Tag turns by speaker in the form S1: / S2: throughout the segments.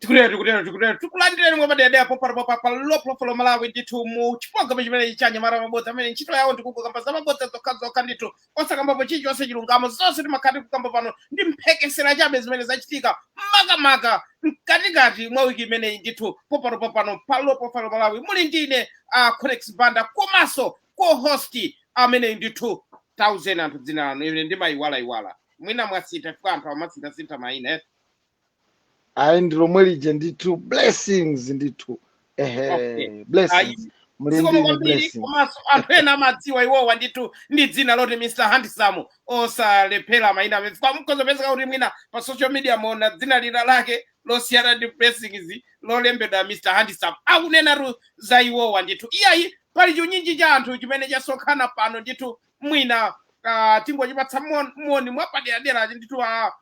S1: tikutero tikutero tikutero tikulandireni mwe madede apo pano pa pa pa low profile malawi ndithu mu chiprogramu chimene cha anyamata a mabodza amene ntchito yawo ndikungokamba za mabodza zokhazokha ndithu osakambapo chilichonse chilungamo zonse timakhala tikukamba pano ndi mphekesera chabe zimene zachitika makamaka mkatikati mwa wiki imeneyi ndithu pompano pompano pa low profile malawi muli ndine a uh, conex banda komanso co-host ameneyi ndithu tauzeni anthu dzina lanu ine ndimayiwalayiwala mwina mwasintha chifukwa anthu amasinthasintha mayina eh?
S2: ayi ndi lomwe lija ndithu blessings ndithu okay ehe ayi blessings muli zikomo ndi
S1: ine kwambiri blessings komanso anthu ena amadziwa iwowa ndithu ndi dzina loti mr handsome osalephera maina amene mukhozopezeka kuti mwina pa social media muona dzina lina lake losiyana ndi blessings lolembedwa mr handsome akunenatu za iwowa ndithu iyayi pali chiunyinji cha anthu chimene chasonkhana pano ndithu mwina uh, tingochipatsa mon- moni mwapaderadera ndithu a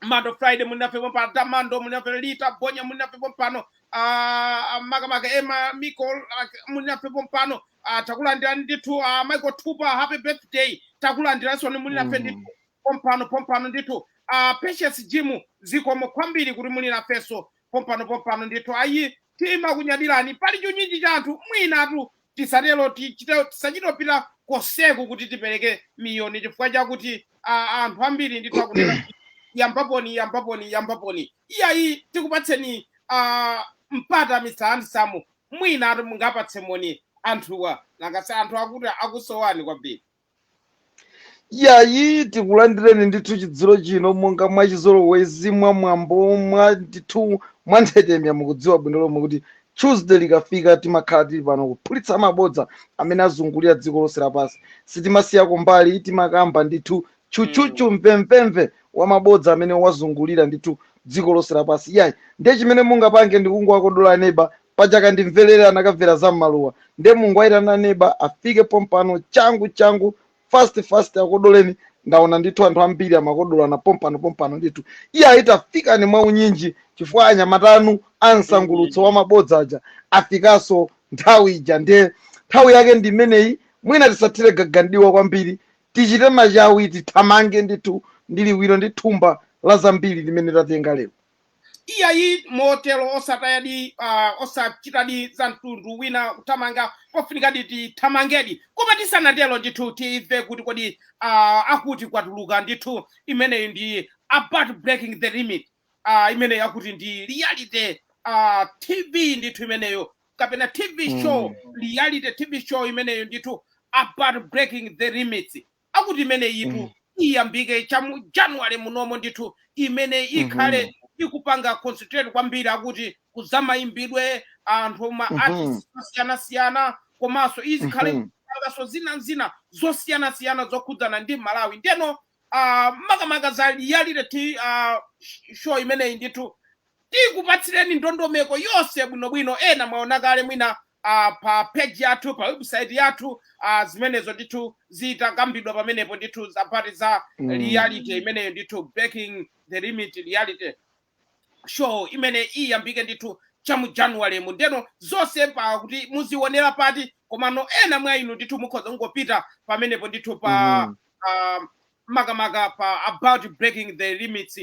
S1: mando friday muli nafe pompano tamando muli nafe rita bonya muli nafe pompano ah, makamaka emma micol ah, muli nafe pompano ah, takulandirani ndithu ah, michael tupa happy birthday takulandiransoni muli nafe Mm. ndithu pompano pompano ndithu ah, patience jimu zikomo kwambiri kuti muli nafenso pompano pompano ndithu ayi timakunyadirani pali chiunyinji cha anthu mwinatu Tisatero, tichite, tisachite kupita konseku kuti tipereke miyoni chifukwa chakuti a, anthu ambiri ndithu akunena kuti yambaponi yambaponi yambaponi iyayi tikupatseni a, mpata mr handsome mwinatu mungapatse moni anthuwa nanga si anthu akuti akusowani kwambiri yayi
S2: tikulandireni ndithu chidzulo chino monga mwachizolowezi mwa mwambo mwa ndithu mwa nthetemya mukudziwa bwino lomwe kuti tuesday likafika timakhala tili pano kuphulitsa mabodza amene azungulira dziko lonse lapansi sitimasiyako mbali timakamba ndithu chuchuchu mvemvemve wa mabodza amene wazungulira ndithu dziko lonse lapansi yayi ndiye chimene mungapange ndikungowakodola neba paja kandimvelele anakamvera za mmaluwa nde mungowaitana neba afike pompano changu changu fast fast akodoleni ndaona ndithu anthu ambiri amakodolana pompano pompano ndithu iyayi tafikani mwa unyinji chifukwa anyamata anu a msangulutso wa mabodza aja afikanso nthawi ija nde nthawi yake ndi imeneyi mwina tisathire gaga mdiwa kwambiri tichite machawi tithamange ndithu ndi liwiro ndi thumba la zambiri limene tatenga lero Iyayi,
S1: motero osatayadi, uh, osachitadi za mtundu wina kuthamanga pofunikadi tithamangedi, koma tisanatero ndithu timve kuti kodi uh, akuti kwatuluka ndithu imeneyi ndi about breaking the limit uh, imeneyi akuti ndi reality uh, TV ndithu imeneyo kapena TV show Mm. reality TV show imeneyo ndithu about breaking the limits akuti imeneyitu Mm. iyambike cha mu january munomo ndithu imene ikhale Mhm. ikupanga concentrate kwambiri akuti ku zamayimbidwe anthu ma Mhm. artists osiyanasiyana komanso izikhale Mhm. kupanganso zina zina zosiyanasiyana zokhudzana ndi malawi ndeno ah, makamaka za reality ah, sh- show imeneyi ndithu tikupatsireni ndondomeko yonse bwinobwino ena mwaona kale mwina ah, pa page yathu pa website yathu ah, zimenezo ndithu zitakambidwa pamenepo ndithu za pati za Mm. reality imeneyo ndithu breaking the limit reality show imene iyambike ndithu cha mu january mu ndeno zonse pa kuti muzionera pati komano ena mwa inu ndithu mukhoza kungopita pamenepo ndithu pa Mhm. ah, makamaka pa about breaking the limits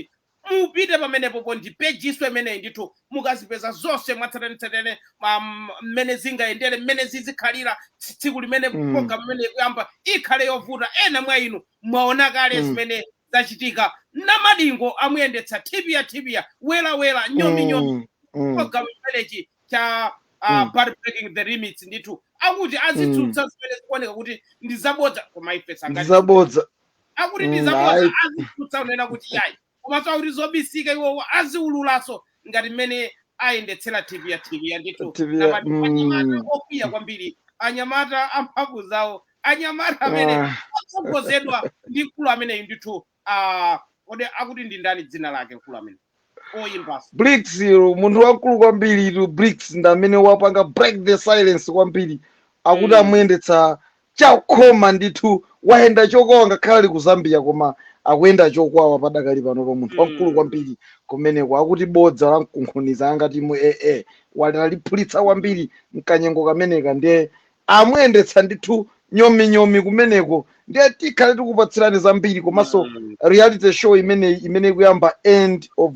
S1: Mupite pamenepopo ndi page-nso imeneyi ndithu mukazipeza zonse mwatsatanetsatane ma- m- mmene zingayendere mmene zizikhalira tsi- tsiku limene Mm. program imene ikuyamba ikhale yovuta ena mwa inu mwaona kale Mm. zimene zachitika namadingo amuyendetsa thipya thipya welawela nyominyomi Mm. Mm. program imeneyi cha uh, Mm. about breaking the limits ndithu akuti azitsutsa zimene zikuoneka kuti ndi zabodza koma ife sitingati Ndizabodza.
S2: akuti ndi
S1: Mm, zabodza ayi. azitsutsa kunena kuti yayi komanso akuti zobisika iwowo aziululaso ngati mmene ayendetsera tv ya tv ya ndithu TV ya- Nabati mm. anyamata okwiya kwambiri anyamata amphamvu zawo anyamata amene Ah. atsogozedwa ndi mkulu ameneyi ndithu ah, kodi akuti ndi ndani dzina lake mkulu amene oyimbaso bricks
S2: ilo munthu wamkulu kwambiritu bricks ndi amene wapanga break the silence kwambiri akuti Mm. amuyendetsa chakhoma ndithu wayenda chokwawa ngakhale ali ku zambia koma akuyenda chokwawa padakali panopa munthu Mm. wamkulu kwambiri kumeneko akuti bodza la mkunkhuniza angati mu aa waliphulitsa kwambiri mkanyengo kameneka ndiye amuyendetsa ndithu nyominyomi kumeneko ndiye tikhale tikupatsirani zambiri komanso Mm. reality show imeneyi imene ikuyamba end of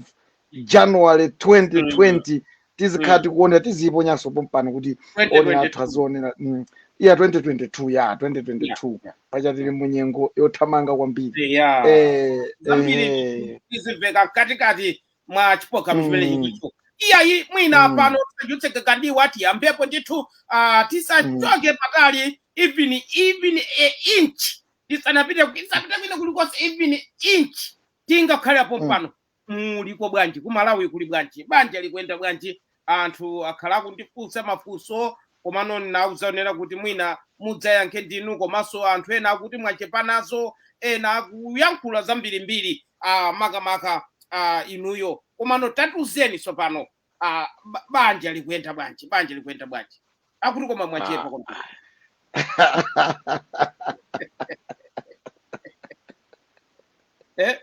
S2: january 2020 tizikhala Mm. tikuonera tiziyiponyanso pompano kuti owonera athu 2022. azionera mm, iya 2022 ya 2022 Yeah. paja tili mu nyengo yothamanga kwambiri Yeah. eh, Zambiri
S1: eh, tizimveka mkatikati mwa chipokano chimene Mm. chilicho iyayi mwina Mm. pano tisachotse kandiwa atiyambepo ndithu ah, tisachoke patali even even a inch tisanapite tisapite kwina kulikonse even inch tingakhale pompano muliko bwanji kumalawi kuli bwanji banja likuyenda bwanji Anthu akhala akundifunsa mafunso komano ndinauza owonera kuti mwina mudzayankhe ndinu komanso anthu ena akuti mwachepa nazo ena akuyankhula zambirimbiri ah, makamaka ah, inuyo komano tatiuzeni tsopano ah, ba- banja likuyenda bwanji banja likuyenda bwanji akuti koma mwachepa Ah.
S2: kwambiri eh?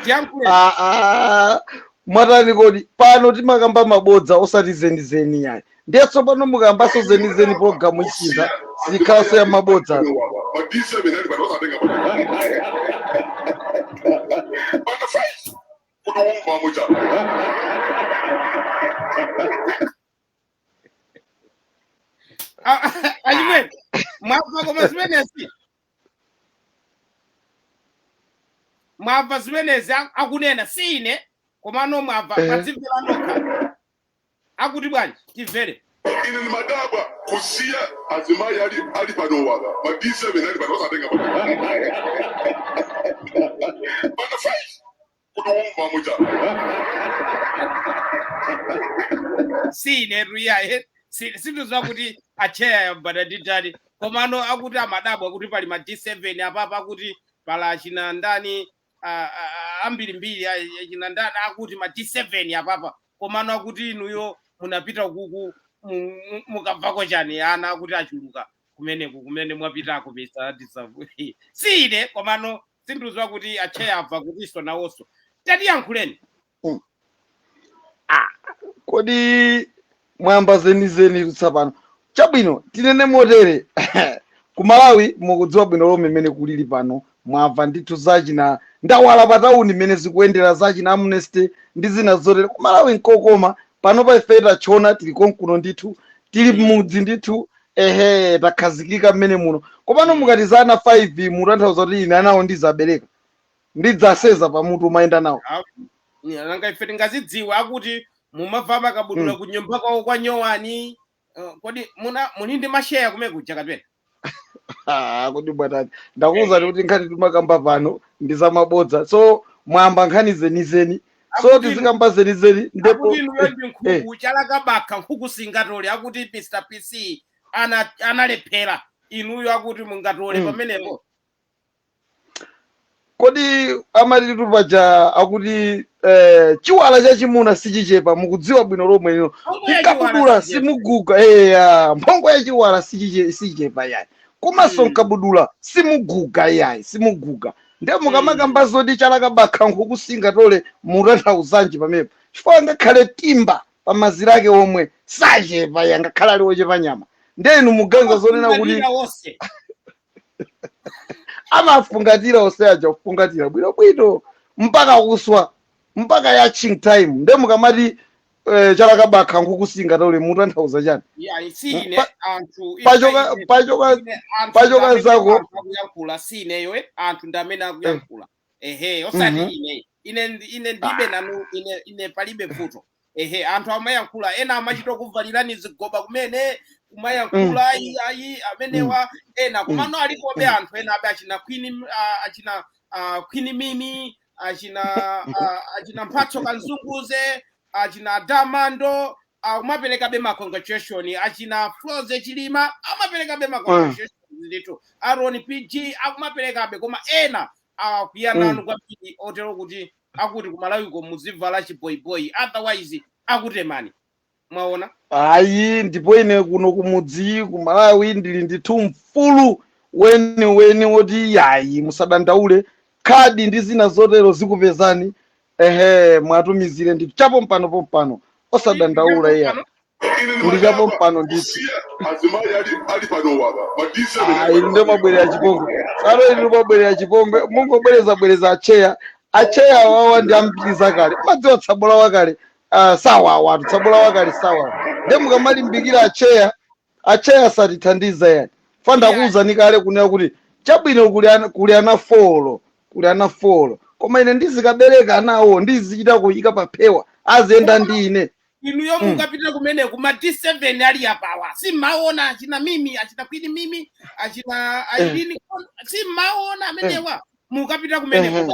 S2: tiyankhule Ah, ah, mwatani kodi pano timakamba mabodza osati zenizeni iyayi ndiye tsopano mukambanso zenizeni pologalamu isintha sikhalanso ya mabodza
S1: achimwene mwamva koma zimenezi mwamva zimenezi a- akunena si ine komano mwamva Eh. mwadzimvera nokha akuti bwanji timvere ine ndimadabwa
S3: kusiya azimayi ali ali panowaga ma d7 ali pano osatenga pano pano fight
S1: kuti womva muja si inetu iyayi si- sindidziwa kuti atcheya yambata nditani komano akuti amadabwa kuti pali ma d7 apapa akuti pali achina ndani ah, ah, ah, ambirimbiri ah, achina ndani akuti ma d7 apapa komano akuti inuyo munapita kuku mu- mu- mukamvako chani ana akuti achuluka kumeneku kumene mwapitako pesa tisavu si ine komano sindikudziwa kuti atcheya amva kutinso nawonso
S2: tatiyankhuleni Ah, kodi mwayamba zenizenitu tsopano chabwino tinene motere ku malawi mukudziwa bwino lomwe mmene kulili pano mwamva ndithu zachina ndawala pa tauni mmene zikuyendera zachina amnesty ndi zina zotere ku malawi nkokoma pano pa ife tatchona tili konkuno ndithu tili mmudzi ndithu ehe takhazikika mmene muno komano Mm. mukati za ana 5 mutanthauza kuti ine anawo ndidzabereka ndidzaseza pamutu kumayenda nawo nanga
S1: ife tingazidziwe akuti mumavala makabudula ku nyumba kwawo kwa nyowani Eh, kodi muna muli ndi masheya kumene kuja kapena
S2: Ah, kodi mwatani ndakuwuzani kuti nkhani timakamba pano ndi zamabodza so mwayamba nkhani zenizeni so Akuti- tizikamba zenizeni ndipo akuti inuyo ndi eh,
S1: nkhuku chalakabakha nkhuku singatole akuti mr pc ana- analephera inuyo akuti mungatole Mm. pamenepo
S2: kodi amatitu paja akuti eh, chiwala chachimuna sichichepa mukudziwa bwino lomwe ino Mphongo ya chiwala mkabudula sichichepa. simuguga eya mphongo ya chiwala sichiche- sichichepa yayi komanso Mm. mkabudula simuguga yayi simuguga nde mm. mukamakamba zoti chalaka bakha nkhuku singatole mutanthauzanji pamepo chifukwa angakhale timba pa mazira ake omwe sachepa angakhale ali ochepa nyama nde inu muganiza zonena kuti Afungatira onse. amafungatira onse aja kufungatira bwinobwino mpaka kuswa mpaka ya ching time nde mukamati eh, chalaka bakha nkhuku singatole mutanthauza chani Yeah, si Mm, ine pa- anthu pachoka ife ine pachoka ine anthu pachoka ndamene zako anthu akuyankhula si
S1: ineyo eh, anthu ndamene eh, akuyankhula ehe osati mhm. ine ine ndi- ine ndibe Ah, nanu ine ine palibe vuto ehe anthu amayankhula ena amachita kuvalirani zigoba kumene mm, kumayankhula ayi ayi mm, amenewa ena mm, komano alikobe mm, anthu enabe achina kwini ah, achina ah, kwini mimi achina ah, achina mphatso kanzunguze achina damando akumaperekabe ma congratulation achina froze chilima akumaperekabe ma congratulation ndithu aron pg akumaperekabe koma ena akwiya Mm. nanu kwambiri otero kuti akuti kumalawiko muzivala chiboyiboyi otherwise akutemani mwaona
S2: ayi ndipo ine kuno kumudzi ku malawi ndili ndithu mfulu weniweni woti yayi musadandaule khadi ndi zina zotero zikupezani ehe muwatumizire ndichapo pompano pompano osadandaula iyayi ndichapo pompano ndithu azimai ali ali panowa madisi Ah, inu ndi omabwerera chipongwe salo inu mabwerera chipongwe mungobwereza bwereza acheya acheya wawa ndi ambiri za kale mumadziwa tsabola wakale Ah, sawa awatu tsabola wakale sawa nde mukamalimbikira acheya acheya satithandiza yayi fanda akuwuzani kale kunena kuti chabwino kuli ana, kuli ana folo kuli ana folo koma ine ndizikabereka anawo ndizichita kuyika paphewa aziyenda ndi ine inuyo Mm.
S1: mukapita kumene kuma d7 ali apawa si mmaona achina mimi achina kwini mimi achina ailini si mmaona amenewa mukapita kumene Ehe. kuba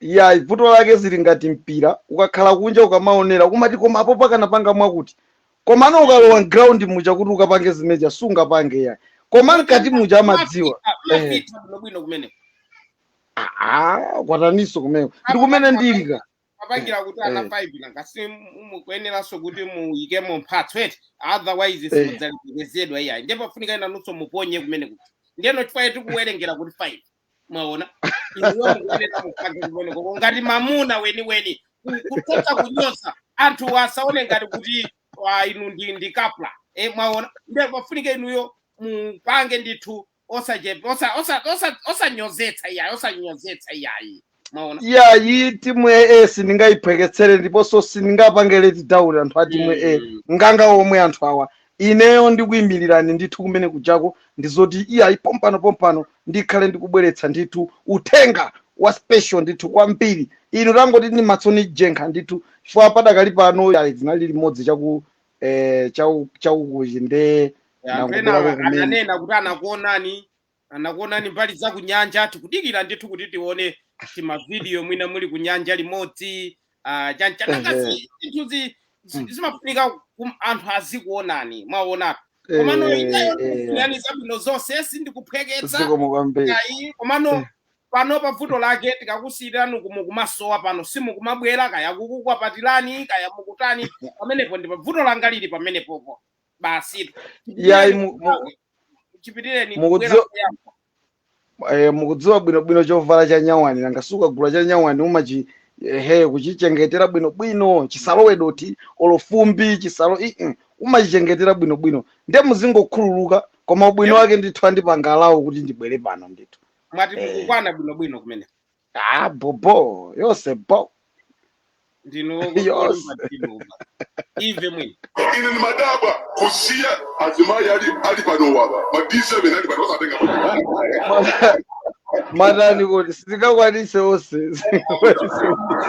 S2: yayi vuto lake zili ngati mpira ukakhala kunja ukamaonera umati koma apo pakanapanga mwakuti komano ukalowa m'ground muja kuti ukapange zimenezija sungapange yayi koma mkati muja amadziwa Eh. mafita bwinobwino
S1: kumene
S2: Ah, kwataniso kumene ndi kumene ndili kapangira kuti
S1: ana Eh. 5 nanga si mukuyeneranso kuti muyikemo mphatso eti otherwise Eh. simudzalemekezedwa iyayi ndiye pafunika inunso muponye kumene kuti ndiyeno chifukwa tikuwerengera kuti 5 mwaona inuyo mukuyenera mupange kumeneko ngati mamuna weniweni ku- kuchotsa kunyoza anthu asaone ngati kuti ah, inu ndi ndi kapla e, mwaona nde pafunike inuyo mupange ndithu osachepa osa- osa- osa- osanyozetsa iyayi osanyozetsa iyayi mwaona iyayi
S2: timu ya a sindingayiphweketsere ndiponso sindingapange leti down anthu a timu ya a Mm. nganga omwe anthu awa ineyo ndikuyimirirani ndithu kumene kujako ndizoti iyayi pompano pompano ndikhale ndikubweretsa ndithu uthenga wa special ndithu kwambiri inu tangoti ndi matsoni njenkha ndithu chifukwa padakali pano iyayi zinali limodzi chaku eh, chau- chaukuchi nde anthu ena ndangobwerako kumene
S1: ananena kuti anakuonani anakuonani mbali za kunyanja tikudikira ndithu kuti tione timavidiyo mwina muli kunyanja limodzi ah, cha nanga Ehe. zi- zinthuzi zi- Mm. zimafunika kum- anthu azikuonani mwaona komano Eh, ineyo eh, ndikufunirani zabwino zonse sindikuphweketsa zikomo kwambiri ayi komano Eh. pano pavuto lake tikakusiyirani kumu kumasowa pano simukumabwera kaya kukukwapatirani kaya mukutani pamenepo ndi pavuto langa lili pamenepopo basitu yayi mu- mu- chipitireni
S2: Mukudziwa- eh, mukudziwa bwinobwino chovala cha nyawani nanga ukagula cha nyawani umachi ehe kuchichengetera bwinobwino chisalowe dothi olo fumbi chisalo ii umachichengetera bwinobwino nde muzingokhululuka koma ubwino wake ndithu andipangalawo kuti ndibwere pano ndithu mwati Eh. mukukwana
S1: bwinobwino kumene ah bobo
S2: yose bo ndinu
S1: Yonse. wokuomba tinuba ive mwini ine ni madaba
S3: kusiya azimayi ali ali pano waba ma d7 ali pano osatenga Mata-
S2: matani kuti sitingakwanise onse sitingakwanise onse.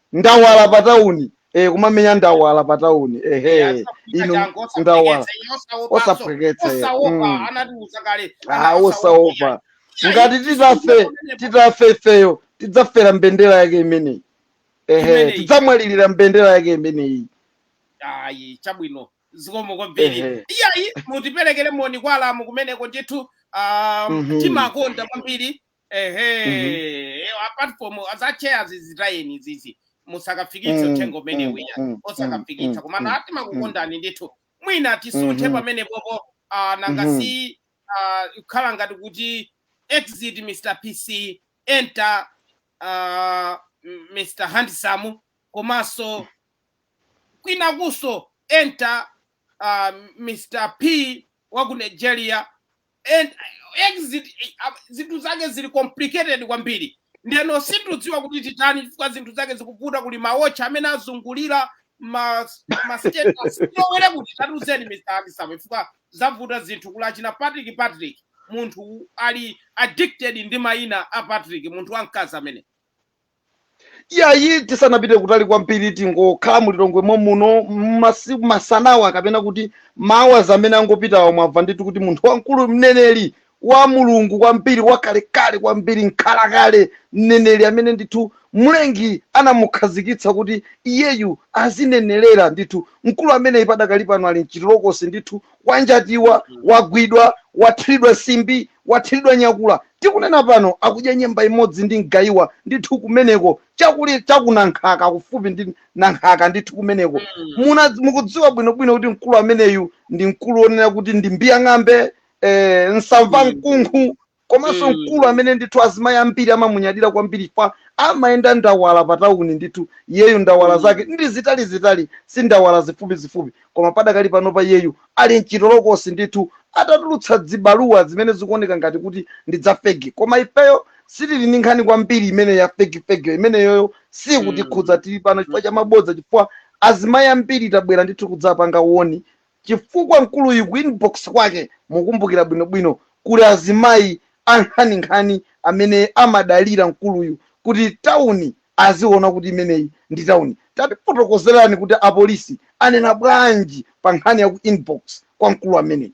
S2: ndawala pa town eh kumamenya ndawala pa town ehe Yeah, so kuchita inu changu ndawala osaphweketsa ine osaopanso osaphweketsa eh osaopa mm. anatiuza kale ah ana osaopa osaopa yani chai ngati sichita titafe pamenepo titafe ifeyo tidzafera mbendera yake imeneyi ehe imeneyi tidzamwalirira mbendera yake imeneyi ayi
S1: chabwino zikomo kwambiri ehe iyayi mutiperekere moni kwa alamu kumeneko ndithu um, mhm timakonda kwambiri ehe apart from azacheya zizitayeni zizi musakafikitse Mm, uthenga umene mm, uja mm, osakafikitsa mm, komano mm, ati makukondani ndithu mwina tisunthe Mhm. pamenepopo ah, nanga Mhm. si ah, kukhala ngati kuti exit mr pc enter ah, m- mr handsome komanso kwinakuso enter ah, mr p wa ku nigeria and exit eh, ah, zinthu zake zili complicated kwambiri ndeno sindidziwa kuti titani chifukwa zinthu zake zikuvuta kuli mawotcha amene azungulira ma ma status tilowere kuti tatuzeni mr handsome chifukwa zavuta zinthu kuli achina patrick patrick munthu ali addicted ndi mayina a patrick munthu wamkazi amene
S2: iyayi tisanapite kutali kwambiri tingokhala mulilongwe momuno masiku masanawa kapena kuti mawa amene angopitawa mwamva ndithu kuti munthu wamkulu mneneri wa mulungu kwambiri wakalekale kwambiri mkhalakale mneneri amene ndithu mlengi anamukhazikitsa kuti iyeyu azinenerera ndithu mkulu ameneyi padakali pano ali mchitolokosi ndithu wanjatiwa wagwidwa wathiridwa simbi wathiridwa nyakula Tikunena pano akudya nyemba imodzi ndi mgaiwa ndithu kumeneko chaku Nankhaka kufupi ndi Nankhaka ndithu kumeneko. Mukudziwa bwino bwino kuti mkulu ameneyu ndi mkulu wonena kuti ndi mbiyang'ambe, nsamva mkunkhu komanso mkulu amene ndithu azimayi ambiri amamunyadira kwambiri fa amayenda ndawala pa tauni ndithu iyeyu ndawala zake ndi zitali zitali si ndawala zifupi zifupi koma padakali panopa iyeyu Ali mchitolokosi ndithu atatulutsa zibaluwa zimene zikuoneka ngati kuti ndi dza fegi koma ifeyo sitili ndi nkhani kwambiri imeneyi ya fegi fegiyo imeneyoyo siyikutikhudza tili pano chifukwa cha mabodza chifukwa azimayi ambiri tabwera ndithu kudzapanga woni chifukwa mkuluyu ku inbox kwake mukumbukira bwinobwino kuli azimayi ankhaninkhani amene amadalira mkuluyu kuti tawuni aziona kuti imeneyi ndi tauni. Tatifotokozerani kuti apolisi anena bwanji pa nkhani ya ku inbox kwa mkulu ameneyi.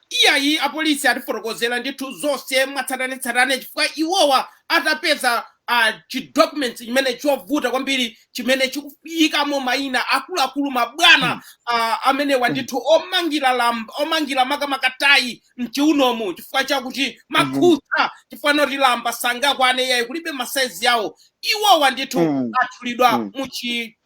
S2: Iyayi
S1: apolisi atifotokozera ndithu zonse mwatsatanetsatane chifukwa iwowa atapeza chi documents chimene chovuta kwambiri chimene chikuyikamo mayina akuluakulu mabwana amenewa ndithu omangira lamba omangira makamaka tayi mchiunomu chifukwa chakuti makhutsa chifukwa choti lamba sangakwane iyayi kulibe masaizi yawo iwowa ndithu atchulidwa mu chi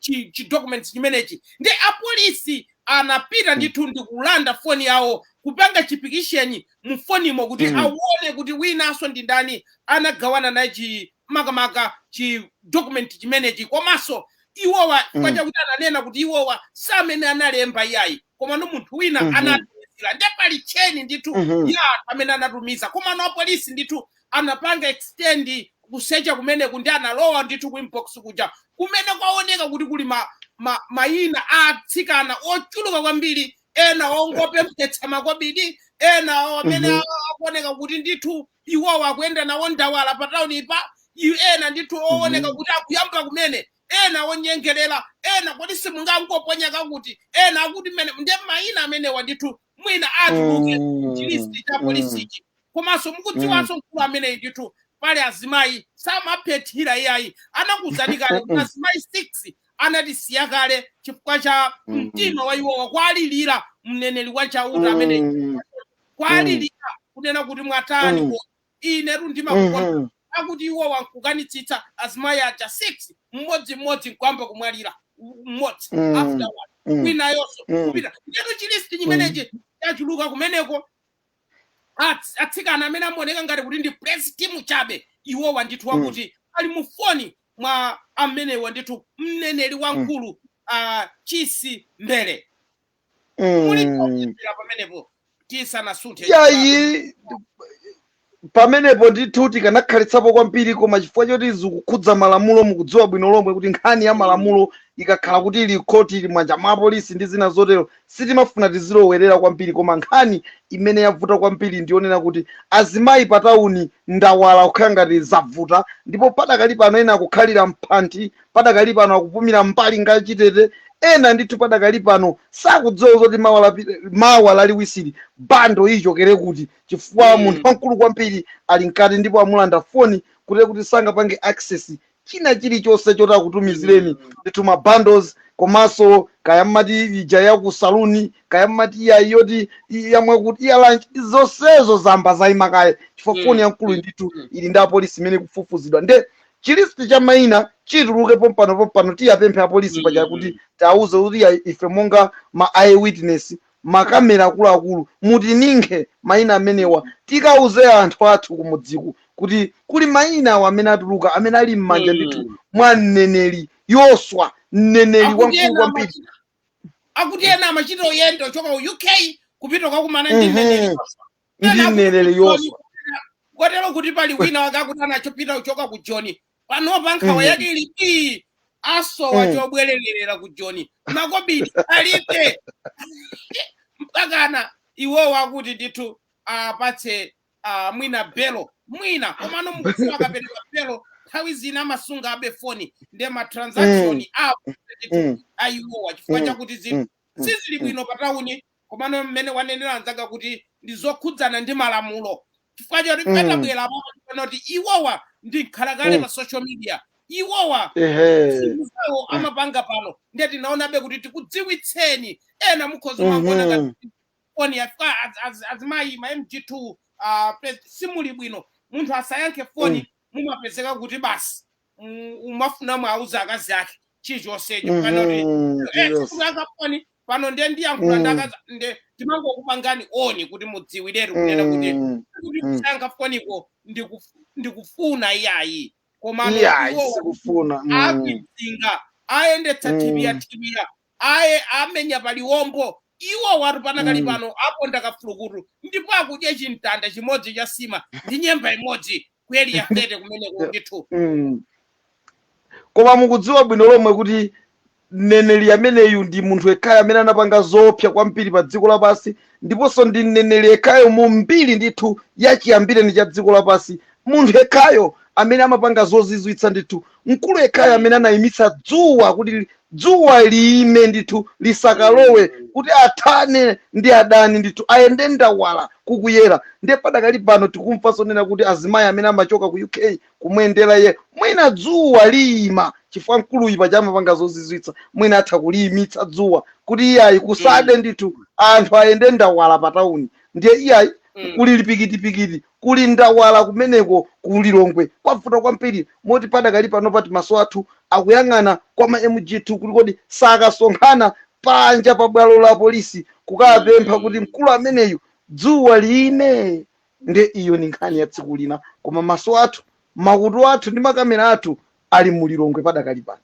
S1: documents chimenechi ndi apolisi anapita ndithu ndi kulanda foni yawo kupanga chipikisheni mu fonimo kuti awone kuti winanso ndi ndani anagawana naye chi makamaka chi document chimenechi komanso iwowa chifukwa chakuti ananena kuti iwowa si amene analemba iyayi komano munthu wina anatumizira nde pali cheni ndithu ya anthu amene anatumiza komano apolisi ndithu anapanga extend kusecha kumeneku ndi analowa ndithu ku inbox kuja kumene kwaoneka kuti kuli mayina a atsikana ochuluka kwambiri ena ongopemphetsa makobidi ena amene akuoneka kuti ndithu iwowa akuyenda nawo ndawala pa taunipa ena ndithu ooneka kuti akuyamba kumene ena onyengerera, ena kodi simungangoponya kakuti, ena akuti mmene, nde mayina amenewa ndithu mwina atuluke chilisti cha polisichi komanso mukudziwanso mkulu ameneyi ndithu pali azimayi samaphethira iyayi anakuuzani kale kuti azimayi 6 anatisiya kale chifukwa cha mtima wa iwowa kwalilira mneneri wa chauta ameneyi kwalilira kunena kuti mwatani mm, ko inetu ndimakukonda Mhm. akuti iwowa nkukanitsitsa azimayi aja 6 mmodzimmodzi nkuyamba kumwalira mmodzi Mm. after one Mm. winayonso Mm. kupita ndetu chilisti chimenechi chachuluka kumeneko Ats- atsikana amene amaoneka ngati kuti ndi praise team chabe iwowa ndithu Mm. akuti ali mu foni mwa amenewa ndithu mneneri wamkulu ah, Chisi Mbele mulipo Mm. kuchokera pamenepo tisanasunthe
S2: yayi pamenepo ndithu tikanakhalitsapo kwambiri koma chifukwa choti zikukhudza malamulo mukudziwa bwino lomwe kuti nkhani ya malamulo ikakhala kuti ili khoti ili mmanja mwa apolisi ndi zina zotero sitimafuna tizilowerera kwambiri koma nkhani imene yavuta kwambiri ndiyonena kuti azimayi pa tawuni ndawala kukhala ngati zavuta ndipo padakali pano ena akukhalira mphanthi padakali pano akupumira m'mbali ngati chitete, ena ndithu padakali pano sakudziwa zoti mawa lapi- mawa laliwisiri bundle ichokere kuti chifukwa Mm. munthu wamkulu kwambiri ali mkati ndipo amulanda foni kuti kuti sangapange access china chilichonse choti akutumizireni ndithu ma bundles komanso kaya mumati ija ya ku saluni kaya mumati ija yoti yamwe kuti ya lunch zonsezo zayamba zayima kaye chifukwa Mm. foni yamkulu ndithu ili ndi apolisi imene ikufufuzidwa nde chi list cha maina chituluke pompano pompano tiyapemphe apolisi mm. paja kuti tiwauze kuti ife monga ma eye witness makamera akuluakulu mutininkhe maina amenewa tikauze anthu athu kumudziku kuti kuli mainawa amene atuluka amene ali m'manja ndithu mm. mwa mneneri Yoswa mneneri Akuti wamkulu ena kwambiri amachita- akuti
S1: ena amachita kuyenda kuchoka ku UK kupita kukakumana ndi Mhm. mneneri
S2: ndi mneneri Yoswa kotero
S1: kuti pali wina wake akuti anachopita kuchoka ku Joni panopa nkhawa Mhm. yake ili ii asowa Mm. chobwererera ku Joni makobidi alibe mpakana iwowa akuti ndithu awapatse ah, mwina belo mwina komano mukudziwa akapereka belo nthawi zina amasungabe foni nde matransaction Mm. apo ndithu Mm. a iwowa chifukwa Mm. chakuti zinthu Mm. sizili bwino pa tauni Komano mmene wanenera mnzanga kuti ndi zokhudzana ndi malamulo chifukwa choti Mm. patabwera apapo ndikuona kuti iwowa ndi mkhalakale Mm. pa social media iwowa Ehe. zinthu zawo Mm. amapanga pano ndiye tinaonabe kuti tikudziwitseni ena mukhoza kumangoona ngati Mhm. foni yafika az- az- azimayi ma MG2 ah, pe- simuli bwino munthu asayankhe foni Mm. mumapezeka kuti basi mm, umafuna mwauza akazi ake chilichonsecho kapena kuti Mhm, eh, serious. sakuyankha foni pano nde ndiyankhula ndi Mm. akazi nde timangokupangani oni kuti mudziwiretu kunena kuti Mm, kuti mm. kusayankha foniko ndikuf- ndikufuna iyayi komano iyayi iwowa
S2: sikufuna Mm,
S1: akidzinga ayendetsa Mm. thibira thibira aye amenya paliwombo iwo watu panakali Mm. pano aponda kafulukutu ndipo akudya chimtanda chimodzi cha nsima ndi nyemba imodzi ku area 30 kumeneko ndithu Mm.
S2: koma mukudziwa bwino lomwe kuti mneneri ameneyu ndi munthu yekhayo amene anapanga zoopsa kwambiri pa dziko lapansi ndiponso ndi mneneri yekhayo mu mbiri ndithu yachiyambireni cha dziko lapansi munthu yekhayo amene amapanga zozizwitsa ndithu mkulu yekhayo amene anayimitsa dzuwa kuti Dzuwa liime ndithu, lisakalowe, kuti athane ndi adani ndithu, ayende ndawala kukuyera. Ndiye padakali pano tikumva zonena kuti azimayi amene amachoka ku UK kumuyendera iye, mwina dzuwa liima chifukwa mkuluyu paja amapanga zozizwitsa, mwina atha kuliimitsa dzuwa kuti iyayi kusade ndithu, anthu ayende ndawala patauni. Ndiye iyayi kuli lipikitipikiti, Kuli ndawala kumeneko ku Lilongwe kwavuta kwambiri moti padakali pano pati maso athu akuyang'ana kwa ma MG2 kuti kodi sakasonkhana panja pa bwalo la polisi kukapempha kuti mkulu ameneyu dzuwa liime? Nde iyo ndi nkhani ya tsiku lina koma maso athu, makutu athu ndi makamera athu ali mu Lilongwe padakali pano.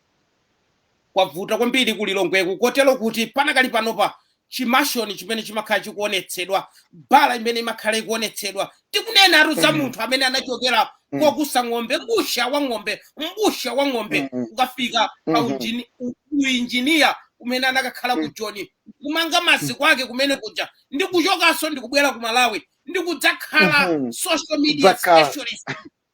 S1: kwavuta kwambiri ku lilongweku kotero kuti panakali panopa chimashoni chimene chimakhala chikuonetsedwa bala imene imakhala ikuonetsedwa tikunena atu za munthu amene anachokera Mm. kokusa ng'ombe mbusa wa ng'ombe mbusa wa ng'ombe Mm, mm. kukafika pa Mhm. ujini- u- uinjiniya kumene anakakhala ku Mm. joni kumanga maziko ake kumene kuja ndi kuchokanso ndi kubwera ku malawi ndi kudzakhala Mhm. social media Kudzakhala. specialist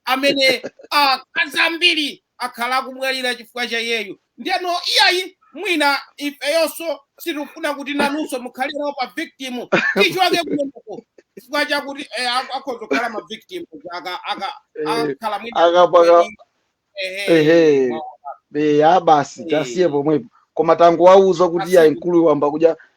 S1: amene akazi ambiri akhala akumwalira chifukwa cha iyeyu ndeno iyayi mwina ifeyonso sitikufuna kuti nanunso mukhalirawo pa victim tichiwake kumeneko chifukwa chakuti eh, ak- akhoza kukhala ma victim aka aka Eh, akakhala mwina akapaka kweli,
S2: ehe ehe mwa- eya basi Eh. tasiye pomwepo koma tangowauza kuti Tasiye. iyayi mkuluyu wayamba kudya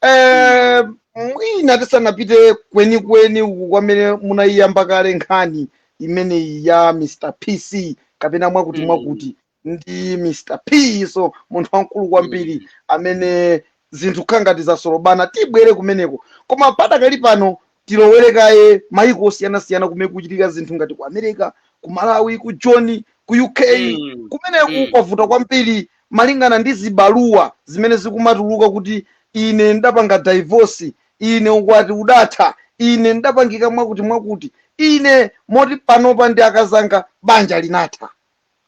S2: Eh, mwina tisanapite kwenikweni uku kwamene munayiyamba kale nkhani imeneyi ya mr pc kapena mwakuti Mm. mwakuti ndi mr p so munthu wamkulu kwambiri amene zinthu zikukhala ngati zasolobana tibwere kumeneko koma padakali pano tilowere kaye mayiko osiyanasiyana kumene kuchitika zinthu ngati ku america ku malawi ku joni ku uk Mm. kumeneku Mm. kwavuta kwambiri malingana ndi zibaluwa zimene zikumatuluka kuti ine ndapanga divorce ine ukwati udatha ine ndapangika mwakuti mwakuti ine moti panopa ndi akazanga banja linatha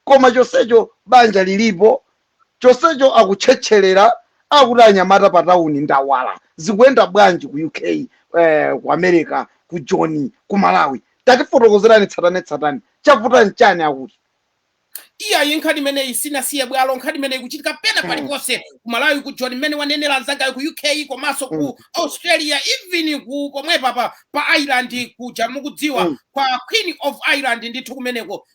S2: koma chonsecho banja lilipo, chonsecho akutchetchelera akuti anyamata pa town ndawala, zikuyenda bwanji ku UK, eh, ku America, ku Joni, ku Malawi, tatifotokozerani tsatanetsatane, chavuta nchani akuti.
S1: Iyayi nkhani imeneyi sinasiye bwalo, nkhani imeneyi ikuchitika pena pali Mm, ponse, ku Malawi, ku Joni mmene wanenera mzangayo, ku UK komanso ku mm, Australia, even ku pomwepa pa, pa Ireland kuja mukudziwa mm, kwa Queen of Ireland ndithu kumeneko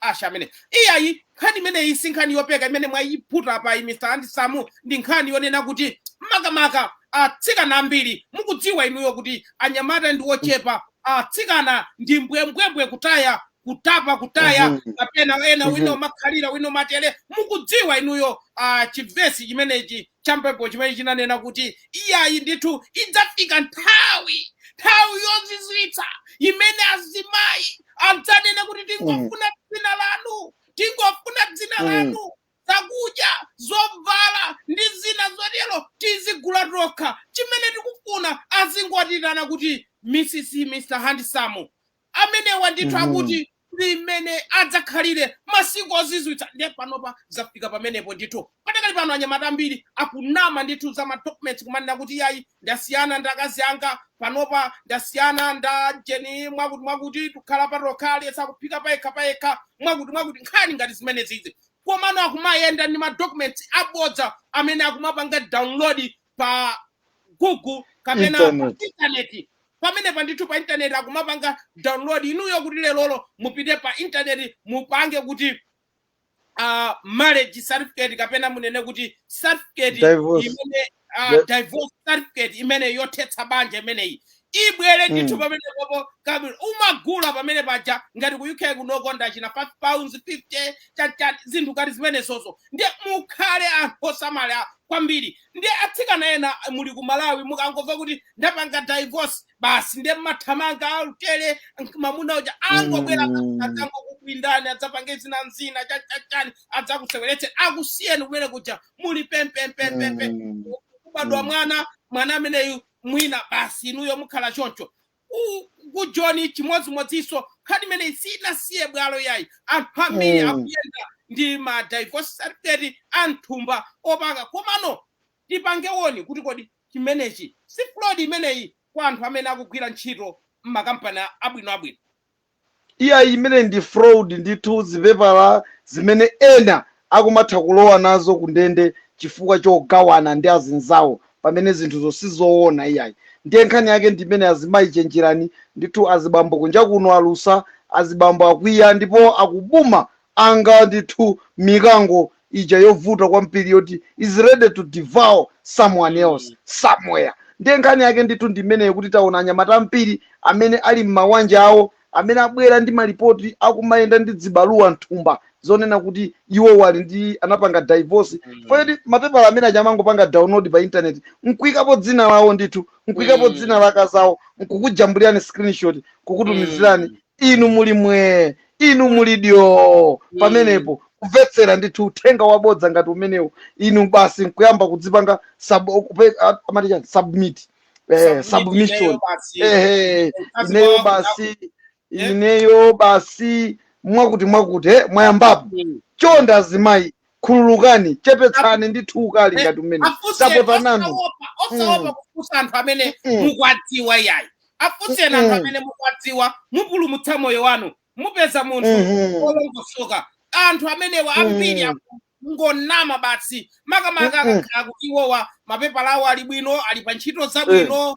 S1: asha amene iyayi nkhani imeneyi si nkhani yopeka imene mwayiputa apa iyi mr handsome ndi nkhani yonena kuti makamaka atsikana ambiri mukudziwa inuyo kuti anyamata ndi ochepa atsikana ndi mbwembwembwe kutaya kutapa kutaya Mhm. kapena ena wina Mhm. umakhalira wina umatele mukudziwa inuyo ah, chivesi chimenechi cha m'Baibulo chimene chinanena kuti, Iyayi ndithu, idzafika nthawi, nthawi yozizwitsa imene azimayi adzanena kuti, Tingofuna dzina lanu, tingofuna dzina Mm. lanu, zakudya, zovala ndi zina zotero tizigula tokha. Chimene tikufuna azingotiitana kuti Mrs. Mr. Handsome. amenewa ndithu Mhm. akuti ndi mmene adzakhalire masiku ozizwitsa ndiye panopa zafika pamenepo ndithu padakali pano anyamata ambiri akunama ndithu za madocuments kumanena kuti yayi ndasiyana ndi akazi anga panopa ndasiyana nda jeni mwakuti mwakuti tikukhala patokha aliyense akuphika payekha payekha mwakuti mwakuti nkhani ngati zimenezizi komano akumayenda ndi madocuments abodza amene akumapanga download pa google kapena pa Internet. intaneti pamenepa ndithu pa intaneti akumapanga download inuyo kuti lerolo mupite pa intaneti mupange kuti uh, marriage certificate kapena munene kuti certificate Divorce. imene uh, Di- divorce certificate imene yothetsa banja imeneyi ibwere ndithu Mm. pamenepopo kabwino umagula pamene paja ngati ku uk kunokonda china 5 pounds 50 chachati zinthu ngati zimenezozo ndiye mukhale anthu osamala kwambiri ndiye atsikana ena muli ku malawi mukangomva kuti ndapanga divorce basi ndiye mumathamanga alutele mamuna uja angobwera Mm. adzangokukwindani adzapange zina nzina chachachani adzakuseweretseni akusiyeni kumene kuja muli pempempempepe Mm. kubadwa Mm. mwana mwana ameneyu mwina basi inuyo mukhala choncho ku, ku joni chimodzimodzinso nkhani imeneyi sinasiye bwalo yayi anthu ambiri Mm. akuyenda ndi ma divorce certificate a m'thumba opanga komano tipange warn kuti kodi chimenechi si fraud imeneyi kwa anthu amene akugwira ntchito m'makampani a- abwinoabwino
S2: Iyayi, imeneyi ndi fraud ndithu, zipepala zimene ena akumatha kulowa nazo kundende chifukwa chogawana ndi azinzawo pamene zinthuzo sizoona iyayi. Ndiye nkhani yake ndi imeneyi azimayi chenjerani ndithu, azibambo kunja kuno alusa, azibambo akwiya ndipo akubuma anga ndithu mikango ija yovuta kwambiri yoti is ready to devour someone else somewhere ndiye nkhani yake ndithu ndi imeneyo kuti taona anyamata ambiri amene ali m'mawanja awo amene abwera ndi malipoti akumayenda ndi dzibaluwa mthumba zonena kuti iwowa ali ndi anapanga divorce chifukwa choti mapepala amene aja amangopanga download pa internet nkuikapo dzina lawo ndithu nkuikapo dzina la akazawo nkukujambulirani screenshot kukutumizirani inu muli mwee inu muli dyoo pamenepo kumvetsera ndithu uthenga wabodza ngati umenewo inu basi nkuyamba kudzipanga sub, kupe- a- amati chani submit eh, submission ehe ineyo basi ineyo basi mwakuti mwakuti eh, mwayambapo chonde azimayi khululukani chepetsani ndithu ukali Eh, ngati umene afunseni tapota nanu osaopa osaopa
S1: Mm. kufunsa anthu amene Mm. mukwadziwa iyayi afunseni anthu Mm. amene mukwadziwa mupulumutsa moyo wanu mupeza munthu Mhm. wolongosoka anthu amenewa ambiri Mm. ngonama basi makamaka Mm-mm. akakhala kuti iwowa mapepala awo ali bwino ali pa ntchito zabwino